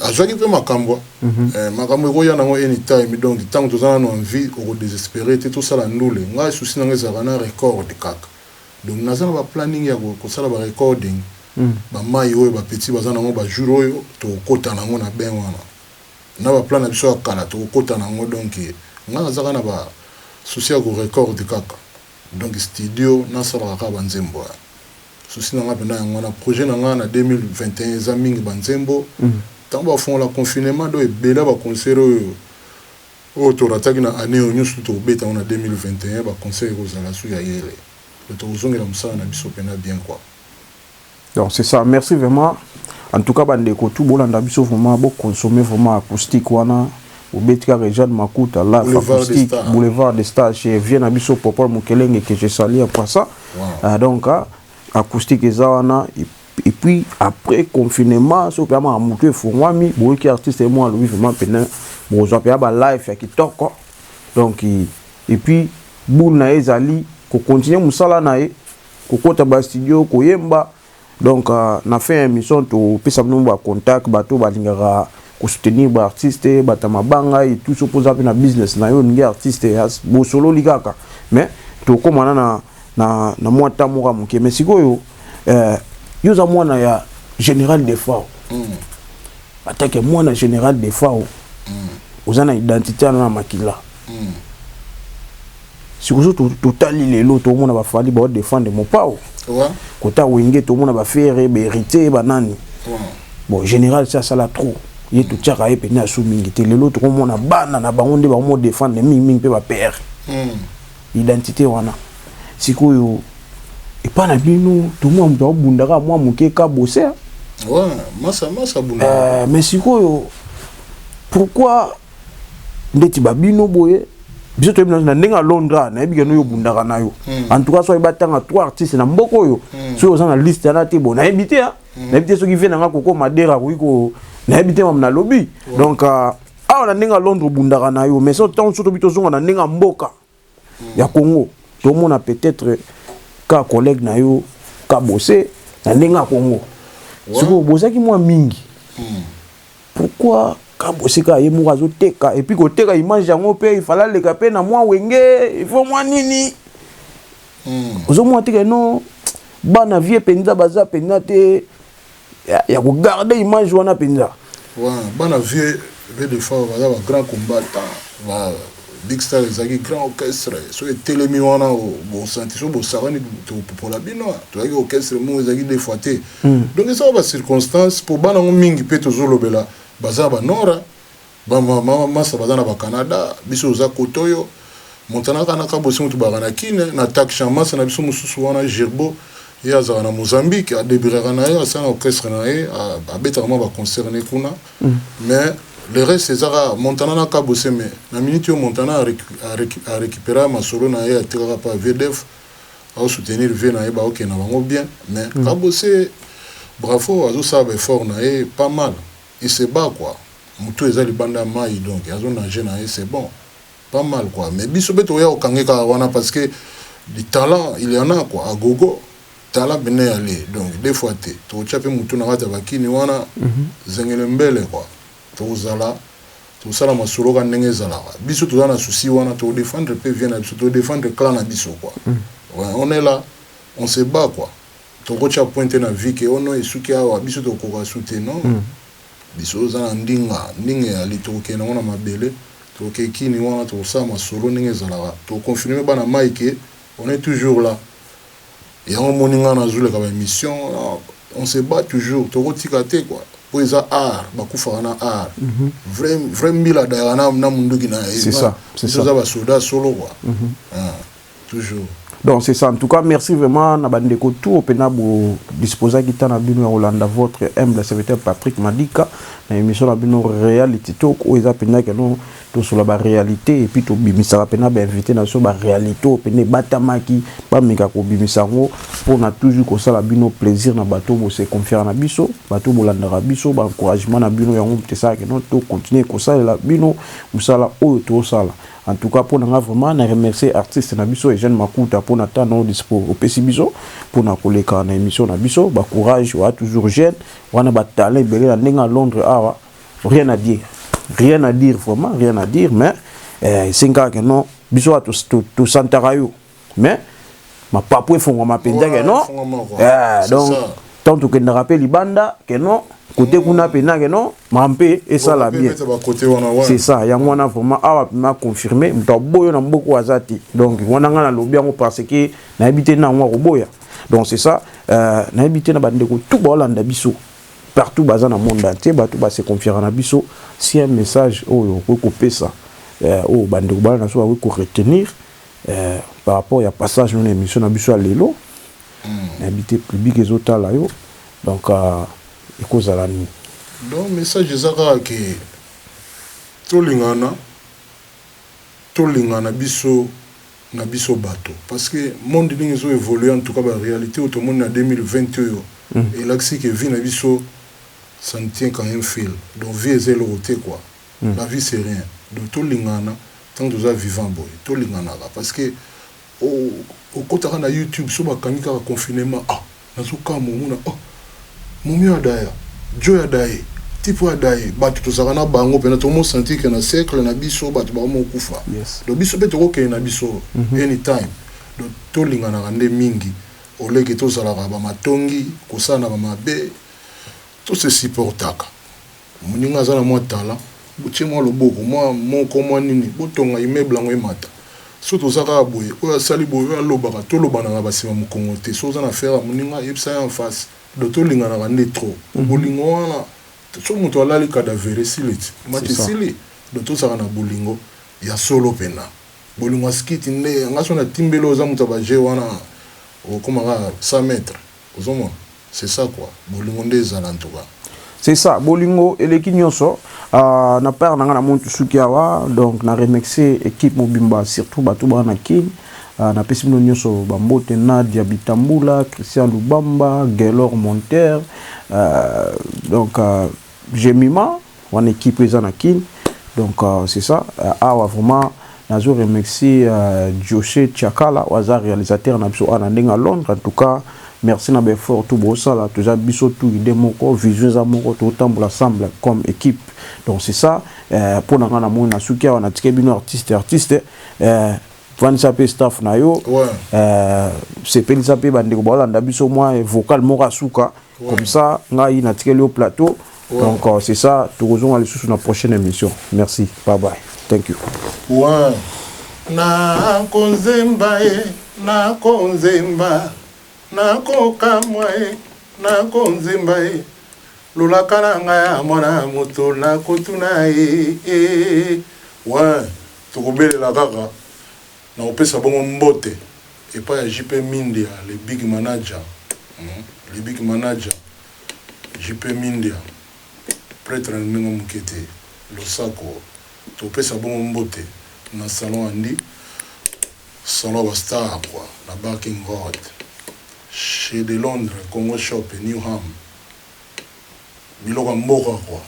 azwaki pe makambua makambo ekoya nango any time donc tango toza nanu en vie oko desesperer te tosala ndule ngai souci nanga ezalaka na record kaka donc naza na ba planning ya kosala ba recording ba mayi oyo ba petit baza nango ba jour oyo tokokota nango na bain wana. na ba plan na biso ya kala toko kota na ngo donc nga naza kaka na ba souci ya ko record kaka donc studio na salaka kaka ba nzembo hein souci na nga pena yango wana projet na nga na 2021 eza mingi ba nzembo tangu ba fongola confinement donc ebele ya ba concert oyo oyo to rataki na annee oyo nioso tout toko beta yango na 2021 ba concert eko zala sous ya yele donc toko zongela musala na biso pena bien quoi. Donc c'est ça, merci vraiment. En tout cas, bandeko tout bolanda biso vraiment bo consommer vraiment acoustique wana. Obeti kaka Jeanne Makuta là acoustique boulevard des stars chez Vieux na biso Popol Mukelenge que je salue après ça. Wow. Euh, donc euh, acoustique eza wana et puis après confinement soki mpe amaka motu efungwami boyoki artiste ye moko alobi vraiment mpena bokozwa mpe ya balife ya kitoko donc et puis boule na ye ezali kocontinue mosala na ye kokota ba studio koyemba donc euh, na fin ya émission topesa bino ba contact bato balingaka kosoutenir ba artiste bata mabanga et tout soki oza mpe na business na yo olingi artiste bosololi kaka mais tokomana na, na, na mwa ntan moko ya moke mais sikoyo euh, yo oza mwana ya général defao mm. atake mwana général defao mm. oza na identité wana na makila mm. sikoyo totali lelo tomona bafandi bao defendre mopao kota wenge tomona bafere berite banani bon général si asala trop ye totiaka ye mpena asu mingi te lelo tokomona bana na bango nde bakomo defendre mingimingi mpe bapere hmm. identité wana sikoyo epai na bino tomona moto akobundaka mwa moke ka boser eh, mais sikoyo pourquoi ndeti ba bino boye biso toyebi na ndenge ya londra nayebi keno yo obundaka na yo hmm. en tout cas soki batanga trois artistes na mboka oyo hmm. soki oza na liste yana te bo nayebi te ah. hmm. nayebi te soki vie nanga koko madera akoki ko nayebi te mam nalobi donc euh, awa na ndenge ya londre obundaka na yo mais so ntango so tobi tozonga na ndenge ya mboka ya Congo tomona peut-être ka collègue na yo ka bosse na ndenge ya Congo sikoyo bozaki mwa mingi hmm. pourquoi ka bosse ka ye moko azoteka epuis koteka image yango mpe ifala aleka mpe na mwa wenge ifo mwa nini hmm. ozomona teke no bana vie mpenza baza mpenza te ya, ya ko garder image wana penza ouais, bana vieux vieux de fort baza ba grand combattant ba big star ezalaki grand orchestre so etelemi wana bosanti so bosakani topopola bino tozalaki orchestre moko ezalaki de fois te hmm. donc ezaka bacirconstance mpo bana yango mingi mpe tozolobela baza banora Ba mama masa baza na ba Canada biso toza kote oyo Montana kaka na kabosi mutu baka na kin na taksha masa na biso mususu wana Gerbo ye azaka na Mozambique a debiraka na ye asala na orchestre na ye abetaka mwa ba concert ne kuna mais le reste eza kaka Montana na kabose mais na minute oyo Montana a recuperaka masolo na ye atikaka pa VDF ao soutenir vie na ye bao kende na bango bien mais kabose bravo azo sala ba effort na ye pas mal Et c'est bas quoi mutu eza libanda ya mayi donc azo nager na ye c'est bon pas mal quoi mais biso pe tokoya ko kange kaka wana parce que du talent il y'en a quoi à gogo tala bnei ale donc deux fois te toko tia pe mutu na kati ya ba kini wana zengele mbele quoi toko zala toko sala masolo ka ndenge ezalaka biso toza na souci wana toko defendre pe vie na biso to defendre clan na biso quoi on est là on se bas quoi Toko tia point te na vie que oh non esuki awa biso toko koka su te non biso oza na ndinga ndinga eyali toko kende nango na mabele toko ke kini wana toko sala masolo ndenge ezalaka toko confirme bana mayi que on est toujours là yango omoni nga nazo leka ba emission wana on se bat toujours toko tika te quoi po eza art ba kufaka na art vrai vrai mbila adayaka na na munduki naye biso toza ba soda solo quoi. toujours donc c'est ça en tout cas merci vraiment na bandeko tour mpena bodisposaki ntan na bino ya kolanda votre humble serviteur patrick madika na émission na bino reality talk oyo eza mpenza keno tosola baréalité epuis tobimisaka mpena bainvité na biso baréalité oyo mpena ebatamaki bameka kobimisa yango mpona toujours kosala bino plaisir na bato oyo bose confiaka na biso bato oyo bolandaka biso baencouragement na bino yango moto esala keno tocontinue kosalela bino mosala oyo tosala En tout cas pona nga vraiment na remercier artiste na biso Eugène Makuta pona temps no dispo opesi biso pona koleka na emission na biso ba courage wa toujours jeune wana ba talent ebele na ndenge à Londres awa rien à dire rien à dire vraiment rien à dire mais eh, esengi kaka non biso wa tosantaka yo mais mapapu efongwama mpenza ke non eh, donc ntango tokendaka mpe libanda ke non kote kuna mpe na ke non ma mpe esala bien c'est ça yango wana vraiment awa mpema confirme moto aboyo na mboka oyo aza te donc wana ngai nalobi yango parce que nayebi te na yango akoboya donc c'est ça euh, nayebi te na bandeko tu baolanda biso partout baza na monde entier bato base confiaka na biso si un message oyo okoki kopesa euh, oyo bandeko bana na biso bakoki koretenir Eh, par rapport ya passage na emission na biso ya lelo, na habite public ezo tala yo, donc euh, ekozala nini? Donc message eza kaka ke tolingana, tolingana biso na biso bato parce que monde ndenge ezo evoluer en tout cas ba realite oyo tomoni na 2020 oyo elakisi ke vie na biso ça ne tient qu'à un fil donc vie eza eloko te quoi. La vie c'est rien donc tolingana tango toza vivant boye tolinganaka parce que okotaka na YouTube soki bakangi kaka confinement ah nazo kamua omona oh Mommy Adaya, Joe Adaye, type oyo Adaye batu tozalaka na bango penza tomo sentir que na cercle na biso batu bakomi kokufa donc biso pe toko kende na biso any time donc tolinganaka nde mingi au lieu que tozalaka ba matongi kosalana ba mabe to se supportaka. Muninga aza na mwa talent botie mwa loboko mwa moko mwa nini botonga immeuble yango emata biso toza kaka boye oyo asali boye oyo alobaka tolobana na ba sima mukongo te soki oza na affaire ya muninga yebisa ye en face donc tolinganaka nde trop po bolingo wana soki mutu alali cadavere esiliti emati esili donc tozalaka na bolingo ya solo pena bolingo ya skit nde nga soki natimbeli yo oza mutu ya ba jeux wana okokoma kaka 100 mètres. Ozo mona? C'est ça quoi. Bolingo nde ezala en tout cas. C'est ça, bolingo eleki nionso. Uh, na part na nga na montu suki awa, donc na remercier equipe mobimba, surtout bato ba na kin. Uh, na pesi bino nionso ba mbote Nadia Bitambula, Christian Lubamba, Gaylor Monter, uh, donc uh, Jemima. Wana equipe eza na kin. Donc euh, c'est ça. Euh, awa vraiment nazo remercier euh, Joche Chakala waza réalisateur na biso ana ndenga Londres. En tout cas, merci na befort tout bosala toza biso tout idée moko vision eza moko totambola ensemble comme équipe donc c'est ça euh, mpo na ngai na moni na suki awa natike bino artiste artiste euh, vandisa mpe staff na yo ouais. euh, sepelisa mpe bandeko baolanda biso mwa vocal moko asuka comme ça ngai natikeli yo plateau donc euh, c'est ça tokozonga lisusu na prochaine émission merci bye bye thank you ouais. nakonzemba ye nakonzemba nakokamwa ye nakonzemba ye lolaka na ngai ya mwana moto nakotuna ye e, e, e. ouais tokobelela kaka Nakopesa bongo mbote epai ya JP Mindia le big manager, le big manager, JP Mindia, pretre na ndenge moke te, losako, tokopesa bongo mbote na salon Andy, salon ya ba stars quoi, na Barking Road, chez de Londres, Congo Shop et New Ham, biloko ya mboka quoi,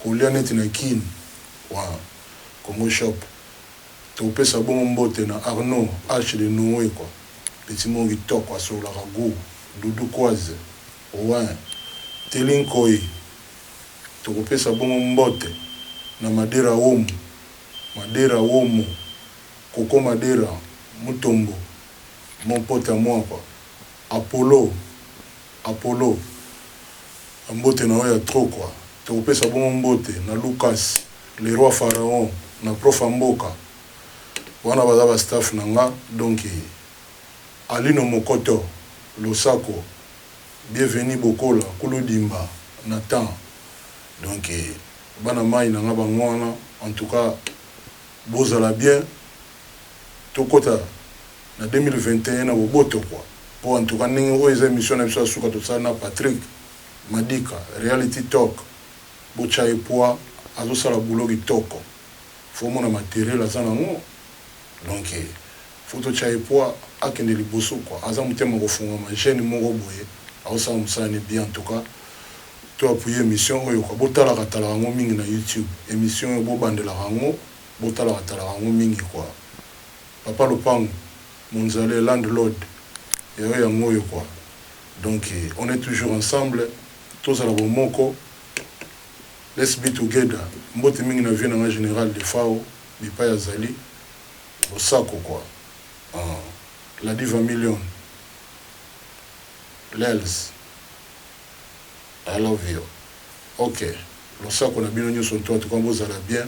kolia neti na Kin, wa Congo Shop. Topesa bongo mbote na Arnaud Arche de Noe quoi petit moko kitoko asololaka gout doudou koise ouin telly nkoyi tokopesa bongo mbote na madera womu madera womo koko madera mutombo mon pote à moi quoi apollo Apollo ba mbote na yo ya trop quoi toko pesa bongo mbote na Lucas le roi pharaon na propha mboka wana baza ba staff na nga donc Alino mokoto losako bieveni bokola kulu dimba na temps donc bana mayi na nga bango wana en tout cas bozala bien tokota na 2021 na boboto quoi po en tout cas ndenge oyo eza emission na biso ya suka tosala na Patrick madika reality talk bo tia ye poids azo sala boulot kitoko faut omona materiel aza na ngo donc faut to tia ye poids akende liboso quoi aza motema ko fungwama jeune moko boye azo sala musala ne bien en tout cas to appuie emission oyo quoi bo talaka talaka ngo mingi na youtube emission oyo bo bandelaka ngo bo talaka talaka ngo mingi quoi Papa lopangu monzale land lord ya yo yango oyo quoi donc on est toujours ensemble tozala bomoko let's be together mbote mingi na vieux na nga general defao bipayi azali losako quoi ahh la diva million lelz I love you ok losako na bino nioso tout en tout cas bozala bien.